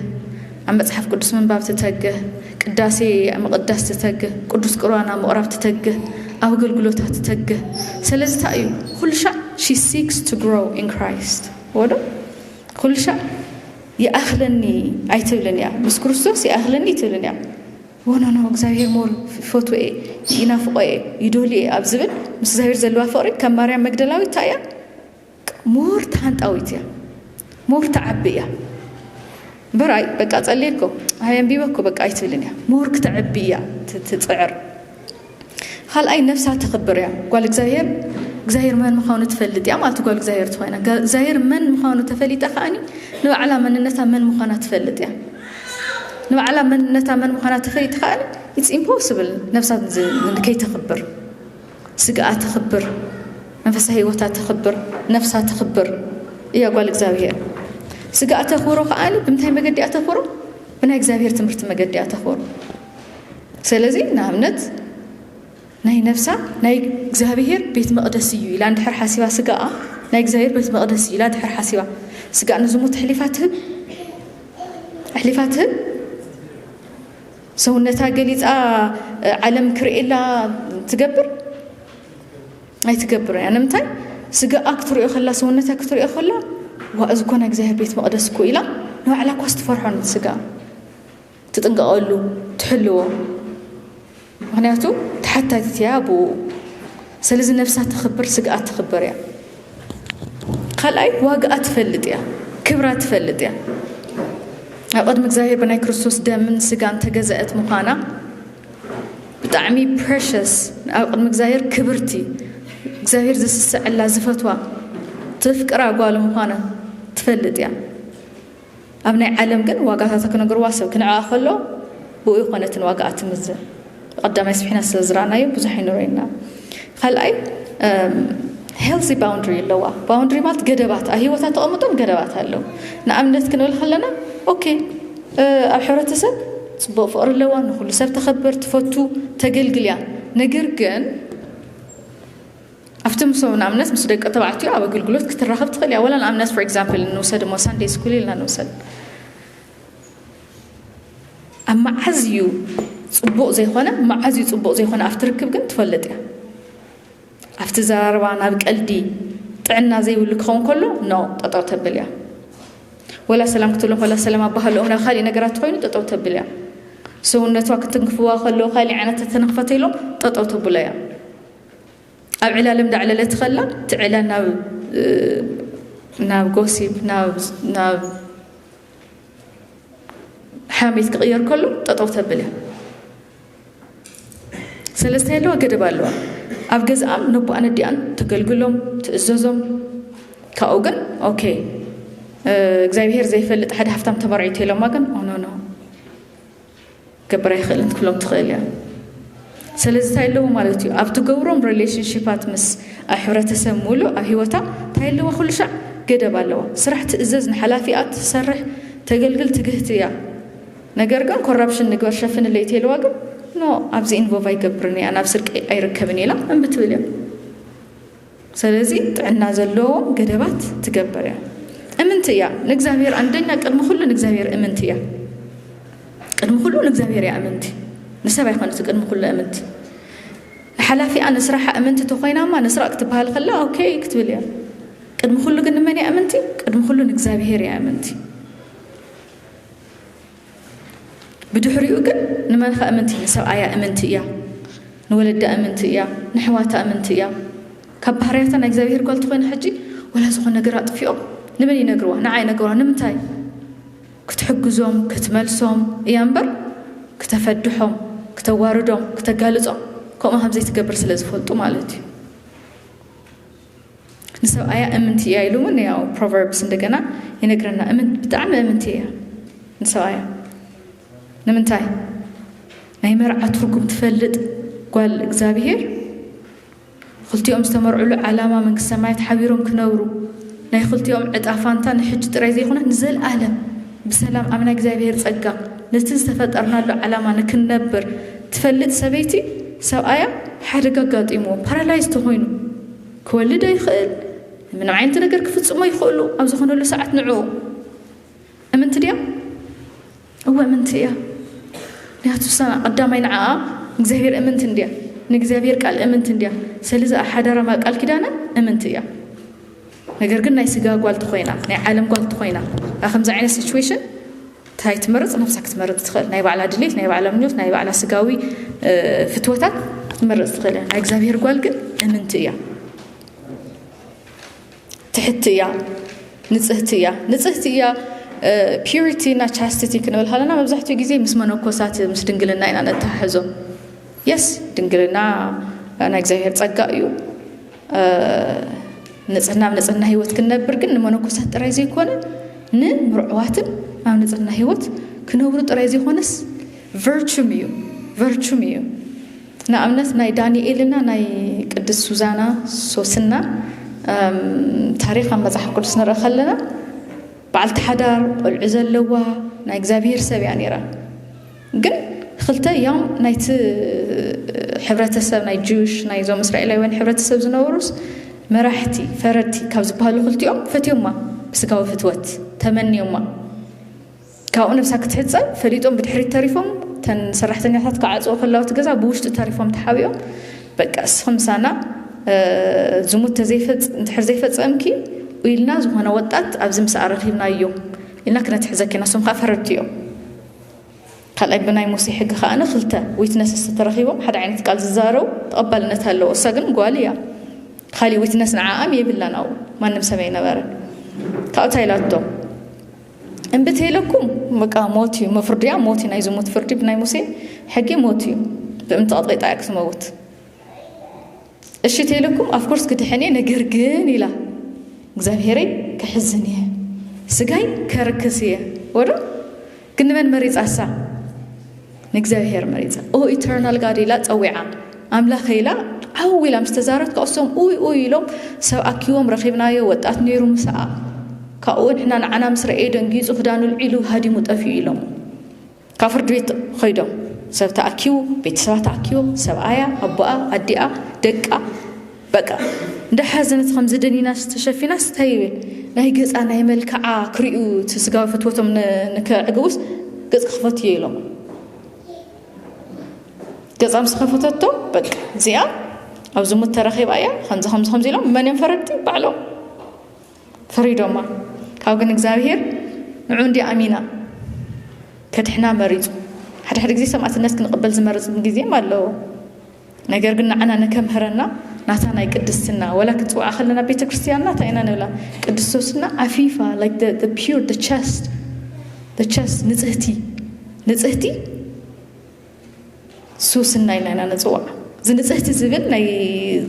ኣብ መፅሓፍ ቅዱስ ምንባብ ትተግህ ቅዳሴ ምቕዳስ ትተግህ ቅዱስ ቅርባን ኣብ ምቕራብ ትተግህ ኣብ ኣገልግሎታ ትተግህ ስለዚ እንታይ እዩ ኩሉ ሻዕ ሺ ሲክስ ቱ ግሮው ኢን ክራይስት ወዶ ኩሉ ሻዕ ይኣኽለኒ ኣይትብልን እያ ምስ ክርስቶስ ይኣኽለኒ ኣይትብልን እያ ወኖኖ እግዚኣብሔር ሞር ይፈትዎ እየ ይናፍቆ እየ ይደልዮ እየ ኣብ ዝብል ምስ እግዚኣብሔር ዘለዋ ፍቕሪ ከም ማርያም መግደላዊት እንታይ እያ ሞር ተሃንጣዊት እያ ሞር ተዓቢ እያ እምበር ኣይ በቃ ጸልየ እኮ ኣይ ኣንቢበ እኮ በቃ ኣይትብልን እያ ሞር ክተዕቢ እያ ትጽዕር ኻልኣይ ነፍሳ ተኽብር እያ ጓል እግዚኣብሔር እግዚኣብሔር መን ምዃኑ ትፈልጥ እያ ማለት ጓል እግዚኣብሔር ትኾይና እግዚኣብሔር መን ምዃኑ ተፈሊጣ ከዓኒ ንባዕላ መንነታ መን ምዃና ትፈልጥ እያ ንባዕላ መንነታ መን ምዃና ተፈሊጥ ከዓኒ ኢትስ ኢምፖስብል ነፍሳ ከይተኽብር ስግኣ ተኽብር መንፈሳ ህይወታ ተኽብር ነፍሳ ተኽብር እያ ጓል እግዚኣብሔር ስግኣ ተኽብሮ ከዓኒ ብምንታይ መገዲ እያ ተኽብሮ ብናይ እግዚኣብሔር ትምህርቲ መገዲ እያ ተኽብሮ ሰለዚ ንኣብነት ናይ ነፍሳ ናይ እግዚኣብሄር ቤት መቕደስ እዩ ኢላ እንድሕር ሓሲባ ስጋኣ ናይ እግዚኣብሄር ቤት መቕደስ እዩ ኢላ ድሕር ሓሲባ ስጋኣ ንዝሙት ኣሕሊፋ ትህብ ኣሕሊፋ ትህብ ሰውነታ ገሊፃ ዓለም ክርእየላ ትገብር ኣይትገብር እያ ንምንታይ ስጋኣ ክትሪኦ ከላ ሰውነታ ክትሪኦ ከላ ዋ እዚ ኮና እግዚኣብሔር ቤት መቕደስ እኮ ኢላ ንባዕላ እኳ ስትፈርሖ ስጋ ትጥንቀቐሉ ትሕልዎ ምክንያቱ ተሓታቲት እያ ብኡ ስለዚ ነፍሳ ተኽብር ስግኣት ትኽብር እያ ካልኣይ ዋጋኣ ትፈልጥ እያ ክብራ ትፈልጥ እያ ኣብ ቅድሚ እግዚኣብሔር ብናይ ክርስቶስ ደምን ስጋን ተገዛእት ምዃና ብጣዕሚ ፕሬሸስ ኣብ ቅድሚ እግዚኣብሔር ክብርቲ እግዚኣብሔር ዝስሰዐላ ዝፈትዋ ትፍቅራ ጓል ምዃና ትፈልጥ እያ ኣብ ናይ ዓለም ግን ዋጋታታ ክነግርዋ ሰብ ክንዕኣ ከሎ ብኡ ይኾነ እቲ ንዋጋኣ ትምዝን ቀዳማይ ስብሒና ስለ ዝረኣናዮ ብዙሕ ኣይንረዩና ካልኣይ ሄልዚ ባውንድሪ ኣለዋ ባውንድሪ ማለት ገደባት ኣብ ሂወታ ተቐምጦም ገደባት ኣለው ንኣብነት ክንብል ከለና ኦኬ ኣብ ሕብረተሰብ ፅቡቅ ፍቅሪ ኣለዋ ንኩሉ ሰብ ተኸብር ትፈቱ ተገልግል እያ ነገር ግን ኣብቲ ምሶ ንኣብነት ምስ ደቂ ተባዕትዮ ኣብ ኣገልግሎት ክትራኸብ ትኽእል እያ ወላ ንኣብነት ፎር ኤግዛምፕል ንውሰድ እሞ ሳንደይ ስኩል ኢልና ንውሰድ ኣብ መዓዝ እዩ ፅቡቕ ዘይኮነ መዓዝ እዩ ፅቡቕ ዘይኮነ ኣብቲ ርክብ ግን ትፈልጥ እያ ኣብቲ ዘራርባ ናብ ቀልዲ ጥዕና ዘይብሉ ክኸውን ከሎ ኖ ጠጠው ተብል እያ ወላ ሰላም ክትብሎ ከላ ሰላም ኣባሃልኦም ናብ ካሊእ ነገራት ትኮይኑ ጠጠው ተብል እያ ሰውነቷ ክትንክፍዋ ከሎ ካሊእ ዓይነት ተተነክፈተ ኢሎም ጠጠው ተብሎ እያ ኣብ ዕላል እንዳዕለለት ከላ እቲ ዕላል ናብ ናብ ጎሲብ ናብ ሓሚት ክቕየር ከሎ ጠጠው ተብል እያ ሰለስተ ኣለዋ ገደብ ኣለዋ ኣብ ገዝኣም ነቦኣን ኣዲኣን ተገልግሎም ትእዘዞም ካብኡ ግን ኦኬ እግዚኣብሄር ዘይፈልጥ ሓደ ሃፍታም ተመርዒቱ ኢሎማ ግን ኦኖኖ ክገብር ኣይክእልን ክትብሎም ትኽእል እያ። ሰለዚ ታይ ኣለዎ ማለት እዩ ኣብ ትገብሮም ሬሌሽንሺፓት ምስ ኣብ ሕብረተሰብ ሙሉእ ኣብ ሂወታ ታይ ኣለዎ ኩሉ ሻዕ ገደብ ኣለዎ። ስራሕ ትእዘዝ ንሓላፊኣ ትሰርሕ ተገልግል ትግህቲ እያ። ነገር ግን ኮራፕሽን ንግበር ሸፍንለይ ተይልዋ ግን ኖ ኣብዚ ኢንቮቭ ኣይገብርን እያ ናብ ስርቂ ኣይርከብን ኢላ እምቢ ትብል እያ። ሰለዚ ጥዕና ዘለዎም ገደባት ትገብር እያ። እምንቲ እያ ንእግዚኣብሔር ኣንደኛ ቅድሚ ኩሉ ንእግዚኣብሔር እምንቲ እያ። ቅድሚ ኩሉ ንእግዚኣብሔር እያ እምንቲ ንሰብ ኣይኮነት ቅድሚ ኩሉ እምንቲ ንሓላፊኣ ንስራሓ እምንቲ ተኮይናማ ንስራቅ ክትበሃል ከላ ኦኬ ክትብል እያ። ቅድሚ ኩሉ ግን ንመን እያ እምንቲ? ቅድሚ ኩሉ ንእግዚኣብሔር እያ እምንቲ። ብድሕሪኡ ግን ንመንኻ እምንቲ ንሰብኣያ እምንቲ እያ ንወለዳ እምንቲ እያ ንሕዋታ እምንቲ እያ ካብ ባህርያታ ናይ እግዚኣብሄር ጓል ትኾይና ሕጂ ወላ ዝኾነ ነገር ኣጥፊኦም ንመን ይነግርዋ ንዓ ይነግርዋ ንምንታይ ክትሕግዞም ክትመልሶም እያ እምበር ክተፈድሖም ክተዋርዶም ክተጋልጾም ከምኡ ከምዘይትገብር ስለ ዝፈልጡ ማለት እዩ ንሰብኣያ እምንቲ እያ ኢሉ እውን ያው ፕሮቨርብስ እንደገና ይነግረና እምንት ብጣዕሚ እምንቲ እያ ንሰብኣያ ንምንታይ ናይ መርዓ ትርጉም ትፈልጥ ጓል እግዚኣብሄር ክልቲኦም ዝተመርዕሉ ዓላማ መንግስቲ ሰማያት ሓቢሮም ክነብሩ ናይ ክልቲኦም ዕጣ ፋንታ ንሕጂ ጥራይ ዘይኮነ ንዘለኣለም ብሰላም ኣብ ናይ እግዚኣብሔር ጸጋ ነቲ ዝተፈጠርናሉ ዓላማ ንክንነብር ትፈልጥ ሰበይቲ ሰብኣያ ሓደጋ ኣጋጢምዎ ፓራላይዝ ተኾይኑ ክወልድ ኣይኽእል ምንም ዓይነት ነገር ክፍጽሞ ይኽእሉ ኣብ ዝኾነሉ ሰዓት ንዕኡ እምንቲ ድያ እወ እምንቲ እያ ምክንያቱ ቀዳማይ ንዓኣ እግዚኣብሔር እምንቲ እንድያ ንእግዚኣብሔር ቃል እምንቲ እንድያ ሰለዚ ሓዳራ ቃል ኪዳና እምንቲ እያ ነገር ግን ናይ ስጋ ጓል ተኾይና ናይ ዓለም ጓል ተኾይና ኣብ ከምዚ ዓይነት ሲቹዌሽን እንታይ ትመርፅ ነብሳ ክትመርፅ ትኽእል ናይ ባዕላ ድሌት ናይ ባዕላ ምኞት ናይ ባዕላ ስጋዊ ፍትወታት ክትመርፅ ትኽእል እያ ናይ እግዚኣብሔር ጓል ግን እምንቲ እያ ትሕቲ እያ ንፅህቲ እያ ንፅህቲ እያ ፒሪቲ እና ቻስቲቲ ክንብል ከለና መብዛሕትኡ ግዜ ምስ መነኮሳት ምስ ድንግልና ኢና ነተሓሕዞ የስ ድንግልና ናይ እግዚኣብሔር ፀጋ እዩ ንፅህና ኣብ ንፅህና ህይወት ክንነብር ግን ንመነኮሳት ጥራይ ዘይኮነ ንምርዑዋትን ኣብ ንፅህና ህይወት ክነብሩ ጥራይ ዘይኮነስ ቨርቹም እዩ ቨርቹም እዩ ንኣብነት ናይ ዳንኤልና ናይ ቅዱስ ሱዛና ሶስና ታሪክ ኣብ መፅሓፍ ቅዱስ ንርኢ ከለና በዓልቲ ሓዳር ቆልዑ ዘለዋ ናይ እግዚኣብሄር ሰብ እያ ነይራ ግን ክልተ ያም ናይቲ ሕብረተሰብ ናይ ጁሽ ናይ ዞም እስራኤላውያን ሕብረተሰብ ዝነበሩስ መራሕቲ ፈረድቲ ካብ ዝበሃሉ ክልቲኦም ፈትዮማ ብስጋዊ ፍትወት ተመንዮማ ካብኡ ነብሳ ክትሕፀብ ፈሊጦም ብድሕሪት ተሪፎም ተን ሰራሕተኛታት ክዓፅዎ ከላውቲ ገዛ ብውሽጢ ተሪፎም ተሓቢኦም በቃ እስኹም ምሳና ዝሙት እንድሕር ዘይፈፀምኪ ኢልና ዝኾነ ወጣት ኣብዚ ምስኣ ረኺብናዮ ኢልና ክነትሕዘኪ ኢና እሶም ከዓ ፈረድቲ እዮም ካልኣይ ብናይ ሙሴ ሕጊ ከኣነ ክልተ ዊትነስስ ተተረኺቦም ሓደ ዓይነት ቃል ዝዛረቡ ተቐባልነት ኣለዎ። እሳ ግን ጓል እያ። ካሊእ ዊትነስ ንዓኣም የብላን ኣብኡ ማንም ሰብ ኣይነበረን። ካብኡ እንታይ ኢላቶ እምቢ ተይለኩም በቃ ሞት እዩ መፍርድያ ሞት እዩ ናይ ዝሙት ፍርዲ ብናይ ሙሴ ሕጊ ሞት እዩ ብእምንቲ ቀጥቂጣ እያ ክትመውት እሺ ቴለኩም ኣፍኮርስ ክድሕን እየ ነገር ግን ኢላ እግዚኣብሄረይ ክሕዝን እየ ስጋይ ከርክስ እየ ወዶ ግን ንመን መሪፃ እሳ ንእግዚኣብሄር መሪፃ ኦ ኢተርናል ጋድ ኢላ ፀዊዓ ኣምላኸ ኢላ ዓው ኢላ ምስ ተዛረት ካብኡ እሶም ኡይ ኡይ ኢሎም ሰብ ኣኪቦም ረኺብናዮ ወጣት ነይሩ ምስኣ ካብኡ ንሕና ንዓና ምስ ረኤ ደንጊፁ ክዳኑ ልዒሉ ሃዲሙ ጠፊኡ ኢሎም ካብ ፍርድ ቤት ኸይዶም ሰብ ተኣኪቡ ቤተሰባ ተኣኪቦም ሰብኣያ ኣቦኣ ኣዲኣ ደቃ በቃ እንዳሓዘነት ከምዚ ደኒናስ ተሸፊናስ እንታይ ይብል ናይ ገፃ ናይ መልክዓ ክሪኡ እቲ ስጋዊ ፍትወቶም ንከዕግቡስ ገፅ ክኸፈቱ እየ ኢሎም ገፃ ምስ ከፈተቶ በቃ እዚኣ ኣብ ዝሙት ተረኺባ እያ ከምዚ ከምዚ ከምዚ ኢሎም መን እዮም ፈረድቲ ባዕሎም ፍሪዶማ ካብ ግን እግዚኣብሔር ንዑ እንዲ ኣሚና ከድሕና መሪጹ ሓደ ሓደ ግዜ ሰማዕትነት ክንቕበል ዝመርጽ ግዜም ኣለዎ ነገር ግን ንዓና ንከምህረና ናታ ናይ ቅድስትና ወላ ክንፅውዓ ከለና ቤተ ክርስትያንና እንታይ ኢና ንብላ ቅድስቶስና ዓፊፋ ር ቸስት ንፅህቲ ንፅህቲ ሱስና ኢልና ኢና ንጽዋዕ። እዚ ንጽህቲ ዝብል ናይ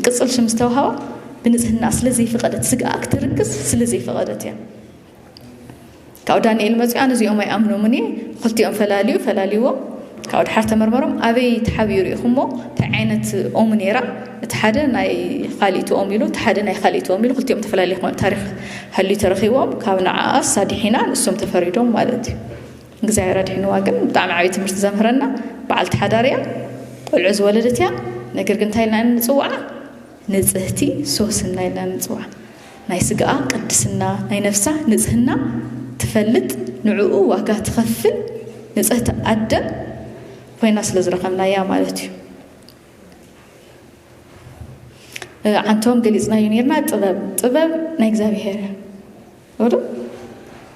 ቅጽል ሽም ዝተውሃባ ብንጽህና ስለ ዘይፈቐደት ስጋኣ ክትርክስ ስለ ዘይፈቐደት እያ። ካብኡ ዳንኤል መጽኡ ኣነ እዚኦም ኣይኣምኖምን እየ ክልቲኦም ፈላልዩ ፈላልዎም ካብኡ ድሓር ተመርመሮም ኣበይ ተሓቢኡ ርኢኹሞ እንታይ ዓይነት ኦም ነይራ እቲ ሓደ ናይ ካሊእቲ ኦም ኢሉ እቲ ሓደ ናይ ካሊእቲ ኦም ኢሉ ክልቲኦም ተፈላለየ ክኾኑ ታሪክ ሃልዩ ተረኺቦም ካብ ንዓኣስ ኣድሒና ንሶም ተፈሪዶም ማለት እዩ እግዚኣብሔር ኣድሒንዋ ግን ብጣዕሚ ዓብዪ ትምህርቲ ዘምህረና በዓልቲ ሓዳር እያ ቆልዑ ዝወለደት እያ ነገር ግን እንታይ ኢልና ንፅውዓ ንፅህቲ ሶስና ኢልና ንፅውዓ ናይ ስጋኣ ቅድስና ናይ ነፍሳ ንፅህና ትፈልጥ ንዕኡ ዋጋ ትኸፍል ንፅህቲ ኣደ ኮይና ስለ ዝረኸብናያ ማለት እዩ ዓንቶም ገሊፅናዮ ነርና ጥበብ ጥበብ ናይ እግዚኣብሔር ወዶ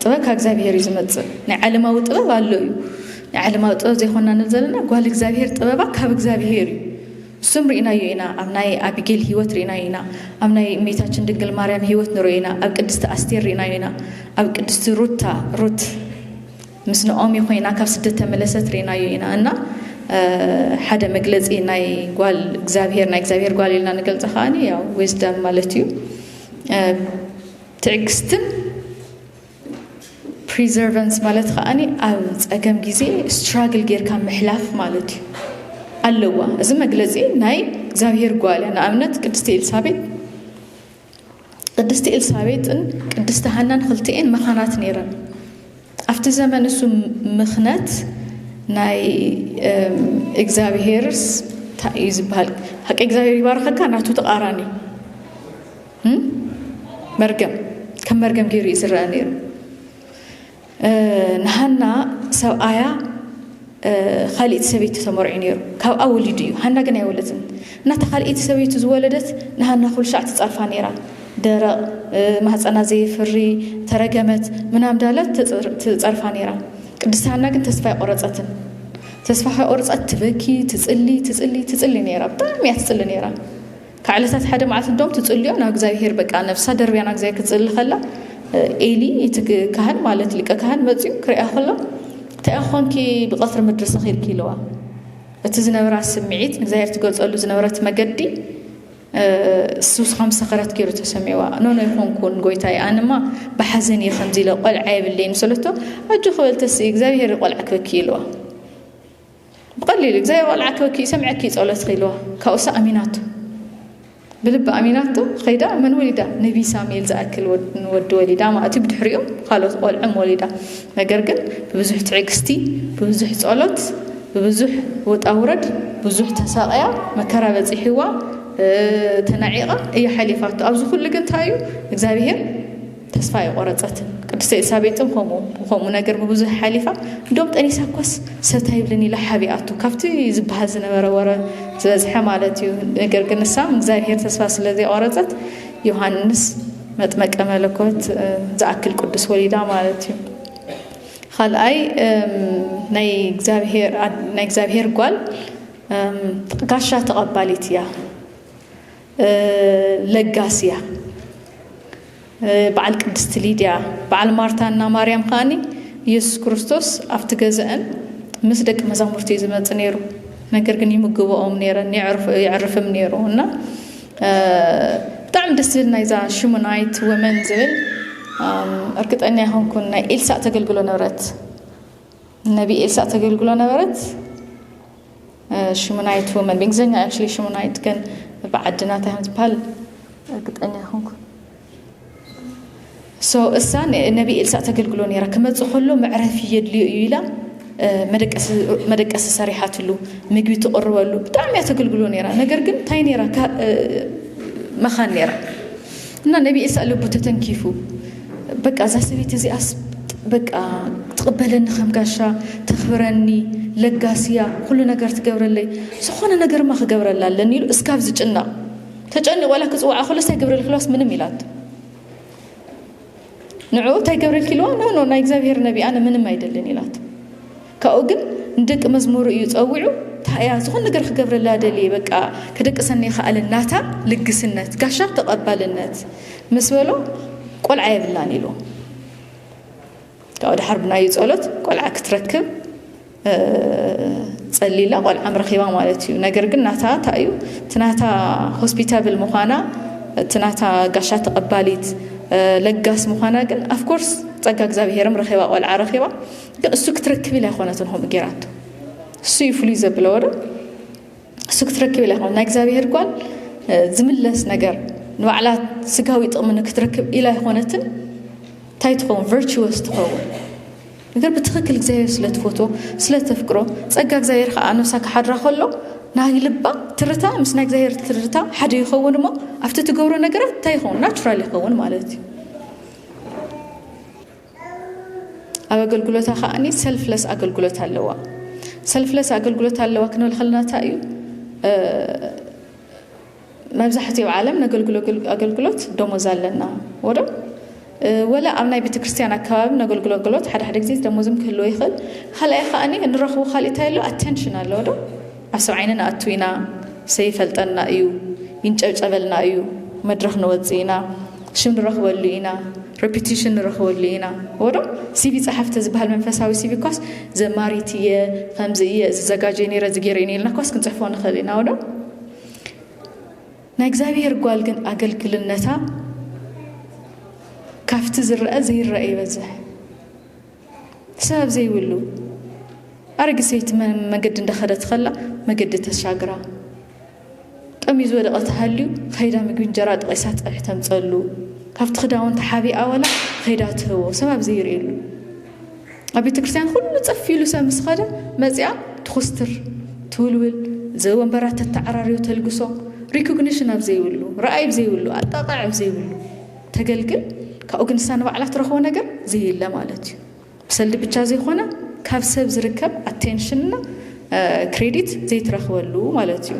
ጥበብ ካብ እግዚኣብሄር እዩ ዝመፅእ ናይ ዓለማዊ ጥበብ ኣሎ እዩ ናይ ዓለማዊ ጥበብ ዘይኮና ንብ ዘለና ጓል እግዚኣብሄር ጥበባ ካብ እግዚኣብሄር እዩ እሱም ርኢናዮ ኢና ኣብ ናይ ኣቢጌል ህይወት ርኢናዮ ኢና ኣብ ናይ እሜታችን ድንግል ማርያም ህይወት ንሪኦ ኢና ኣብ ቅድስቲ ኣስቴር ርኢናዮ ኢና ኣብ ቅድስቲ ሩታ ሩት ምስ ንኦሚ ኮይና ካብ ስደት ተመለሰት ርኢናዮ ኢና እና ሓደ መግለፂ ናይ ጓል እግዚኣብሄር ናይ እግዚኣብሄር ጓል ኢልና ንገልፀ ከዓኒ ያው ዊዝደም ማለት እዩ ትዕግስትን ፕሪዘርቨንስ ማለት ከኣ ኣብ ጸገም ግዜ ስትራግል ጌርካ ምሕላፍ ማለት እዩ ኣለዋ። እዚ መግለጺ ናይ እግዚኣብሄር ጓል እያ። ንኣብነት ቅድስቲ ኤልሳቤጥ ቅድስቲ ኤልሳቤጥን ቅድስቲ ሃናን ክልቲኤን መኻናት ነይረን። ኣብቲ ዘመን እሱ ምኽነት ናይ እግዚኣብሄርስ እንታይ እዩ ዝበሃል? ሓቂ እግዚኣብሄር ይባርኸካ ናቱ ተቓራኒ መርገም ከም መርገም ገይሩ እዩ ዝረአ ነይሩ ንሃና ሰብኣያ ካልእቲ ሰበይቲ ተመርዑ ነይሩ ካብኣ ወሊዱ እዩ ሃና ግን ኣይወለትን እናታ ካልእቲ ሰበይቱ ዝወለደት ንሃና ኩሉ ሻዕ ትፀርፋ ነይራ ደረቕ ማህፀና ዘይፍሪ ተረገመት ምናም ዳለት ትፀርፋ ነይራ ቅድስቲ ሃና ግን ተስፋ ኣይቆረፀትን ተስፋ ከይቆረፀት ትበኪ ትፅሊ ትፅሊ ትፅሊ ነይራ ብጣዕሚ እያ ትፅሊ ነይራ ካብ ዕለታት ሓደ መዓልቲ እንደውም ትጽልዮ ናብ እግዚኣብሄር በቃ ነፍሳ ደርብያ ናብ እግዚኣብሄር ክትጽሊ ከላ ኤሊ እቲ ካህን ማለት ሊቀ ካህን መጽኡ ክሪኣ ከሎ እንታይ ኮንኪ ብቐትሪ ምድሪ ሰኺርኪ ኢለዋ እቲ ዝነበራ ስምዒት ንእግዚኣብሄር ትገልጸሉ ዝነበረት መገዲ ሱስ ከም ሰኸረት ገይሩ ተሰሚዋ ኖኖ ይኾንኩን ጎይታይ ኣንማ ብሓዘን እየ ከምዚ ኢለ ቆልዓ የብለይን ሰለቶ ኣጆ ክበልተሲ እግዚኣብሄር ቆልዓ ክበኪ ኢልዋ ብቐሊሉ ብዘይ ኣቆልዓክበኪ እዩ ሰምዐኪ ጸሎትኺ ኢልዋ ካብኡሳ ኣሚናቶ ብልቢ ኣሚናቶ ኸይዳ መን ወሊዳ ነቢ ሳሙኤል ዝኣክል ወዲ ወሊዳ ማለት እዩ ብድሕሪኡ ካልኦት ቆልዑም ወሊዳ ነገር ግን ብብዙሕ ትዕግስቲ ብብዙሕ ጸሎት ብብዙሕ ወጣ ውረድ ብዙሕ ተሳቐያ መከራ በጺሕዋ ተናዒቓ እያ ሓሊፋቶ ኣብዚ ኩሉ ግን እንታይ እዩ እግዚኣብሄር ተስፋ ኣይቖረጸትን። ቅድስተ ኤልሳቤጥን ከምኡ ብኸምኡ ነገር ብብዙሕ ሓሊፋ እንዶም ጠኒሳ እኳስ ሰት ኣይብልን ኢላ ሓቢኣቶ ካብቲ ዝበሃል ዝነበረ ወረ ዝበዝሐ ማለት እዩ። ነገር ግን ንሳ ንእግዚኣብሔር ተስፋ ስለ ዘይቖረጸት ዮሃንስ መጥመቀ መለኮት ዝኣክል ቅዱስ ወሊዳ ማለት እዩ። ካልኣይ ናይ እግዚኣብሔር ጓል ጋሻ ተቐባሊት እያ። ለጋስያ በዓል ቅድስቲ ሊድያ በዓል ማርታ እና ማርያም ከዓኒ ኢየሱስ ክርስቶስ ኣብቲ ገዛአን ምስ ደቂ መዛሙርቲ እዩ ዝመፅ ነይሩ ነገር ግን ይምግበኦም ነይረን የዕርፍም ነይሩ እና ብጣዕሚ ደስ ዝብል ናይዛ ሽሙናይት ወመን ዝብል እርግጠኛ ይኾንኩን ናይ ኤልሳእ ተገልግሎ ነበረት ነቢ ኤልሳእ ተገልግሎ ነበረት ሽሙናይት ወመን ብእንግሊዝኛ ኣክቹሊ ሽሙናይት ግን ብዓድና እንታይ ከም ዝበሃል እርግጠኛ ይኹንኩ ሶ እሳ ነቢ ኤልሳ ተገልግሎ ነይራ ክመፅ ከሎ መዕረፊ የድልዮ እዩ ኢላ መደቀሲ ሰሪሓትሉ ምግቢ ትቕርበሉ ብጣዕሚ እያ ተገልግሎ ነይራ ነገር ግን እንታይ ነይራ መኻን ነይራ እና ነቢ ኤሳእ ልቡ ተተንኪፉ በቃ እዛ ሰበይቲ እዚኣስ በቃ ትቕበለኒ ከም ጋሻ ተኽብረኒ ለጋስያ ኩሉ ነገር ትገብረለይ ዝኾነ ነገርማ ክገብረላ ኣለኒ ኢሉ እስካብ ዝጭነቕ ተጨኒቑ ዋላ ክፅዋዓ ከሎስ ኣይገብረልክላስ ምንም ኢላቶ ንዕኡ እንታይ ገብረልኪ ኢልዋ ኖ ኖ ናይ እግዚኣብሄር ነቢ ኣነ ምንም ኣይደልን ኢላቶ ካብኡ ግን ንደቂ መዝሙሩ እዩ ጸዊዑ እንታይ እያ ዝኾን ነገር ክገብረላ ደልየ በቃ ከደቅሰኒ ይኽኣለ ናታ ልግስነት ጋሻ ተቐባልነት ምስ በሎ ቆልዓ የብላን ኢሉ ካብኡ ድሓር ብናዩ ጸሎት ቆልዓ ክትረክብ ጸሊላ ቆልዓም ረኺባ ማለት እዩ ነገር ግን ናታ እንታይ እዩ እቲ ናታ ሆስፒታብል ምዃና እቲ ናታ ጋሻ ተቐባሊት ለጋስ ምዃና ግን ኣፍኮርስ ጸጋ እግዚኣብሄርም ረኺባ ቆልዓ ረኺባ ግን እሱ ክትረክብ ኢላ ኣይኮነትን ከምኡ ጌራቶ እሱ እዩ ፍሉይ ዘብለዎ ዶ እሱ ክትረክብ ኢላ ይኮነ ናይ እግዚኣብሄር ጓል ዝምለስ ነገር ንባዕላ ስጋዊ ጥቕሚ ንክትረክብ ኢላ ይኮነትን እንታይ ትኸውን ቨርቹወስ ትኸውን ነገር ብትክክል እግዚኣብሄር ስለ ትፈትዎ ስለ ተፍቅሮ ጸጋ እግዚኣብሄር ከዓ ነብሳ ክሓድራ ከሎ ናይ ልባ ትርታ ምስ ናይ እግዚኣብሄር ትርታ ሓደ ይኸውን እሞ ኣብቲ ትገብሮ ነገራት እንታይ ይኸውን ናቹራል ይኸውን ማለት እዩ ኣብ ኣገልግሎታ ከዓኒ ሰልፍለስ ኣገልግሎት ኣለዋ ሰልፍለስ ኣገልግሎት ኣለዋ ክንብል ከለና እንታይ እዩ መብዛሕትኡ ዓለም ነገልግሎ ኣገልግሎት ደሞዝ ኣለና ወዶ ወላ ኣብ ናይ ቤተ ክርስቲያን ኣከባቢ ነገልግሎ ኣገልግሎት ሓደ ሓደ ግዜ ደሞዝም ክህልዎ ይኽእል ካልኣይ ከዓኒ ንረኽቦ ካልእ እንታይ ኣሎ ኣቴንሽን ኣለዎ ዶ ዓሰብ ዓይኒ ንኣቱ ኢና ሰይፈልጠና እዩ ይንጨብጨበልና እዩ መድረኽ ንወጽእ ኢና ሽም ንረኽበሉ ኢና ረፒቲሽን ንረኽበሉ ኢና ወዶ ሲቪ ጸሓፍቲ ዝበሃል መንፈሳዊ ሲቪ ኳስ ዘማሪት እየ ከምዚ እየ እዚ ዘጋጀ ነረ እዚ ገይረ እዩ ኢልና ኳስ ክንጽሕፎ ንኽእል ኢና ወዶ ናይ እግዚኣብሔር ጓል ግን ኣገልግልነታ ካብቲ ዝረአ ዘይረአ ይበዝሕ ሰብ ዘይብሉ ኣረጊት ሰይቲ መገዲ እንዳኸደት ከላ መገዲ ተሻግራ ጠምዩ ዝወደቐ ተሃልዩ ከይዳ ምግቢ እንጀራ ጠቒሳ ፀብሒ ተምፀሉ ካብቲ ክዳውንቲ ሓቢኣ ወላ ከይዳ ትህቦ ሰብ ኣብ ዘይርእየሉ ኣብ ቤተ ክርስቲያን ኩሉ ፀፍ ኢሉ ሰብ ምስ ኸደ መፅኣ ትኹስትር ትውልውል ዘወንበራት ተተዓራርዮ ተልግሶ ሪኮግኒሽን ኣብ ዘይብሉ ረኣይ ኣብ ዘይብሉ ኣጣቕዕ ኣብ ዘይብሉ ተገልግል ካብኡ ግን ንሳ ንባዕላ ትረኽቦ ነገር ዘየለ ማለት እዩ ብሰልዲ ብቻ ዘይኮነ ካብ ሰብ ዝርከብ ኣቴንሽን እና ክሬዲት ዘይትረኽበሉ ማለት እዩ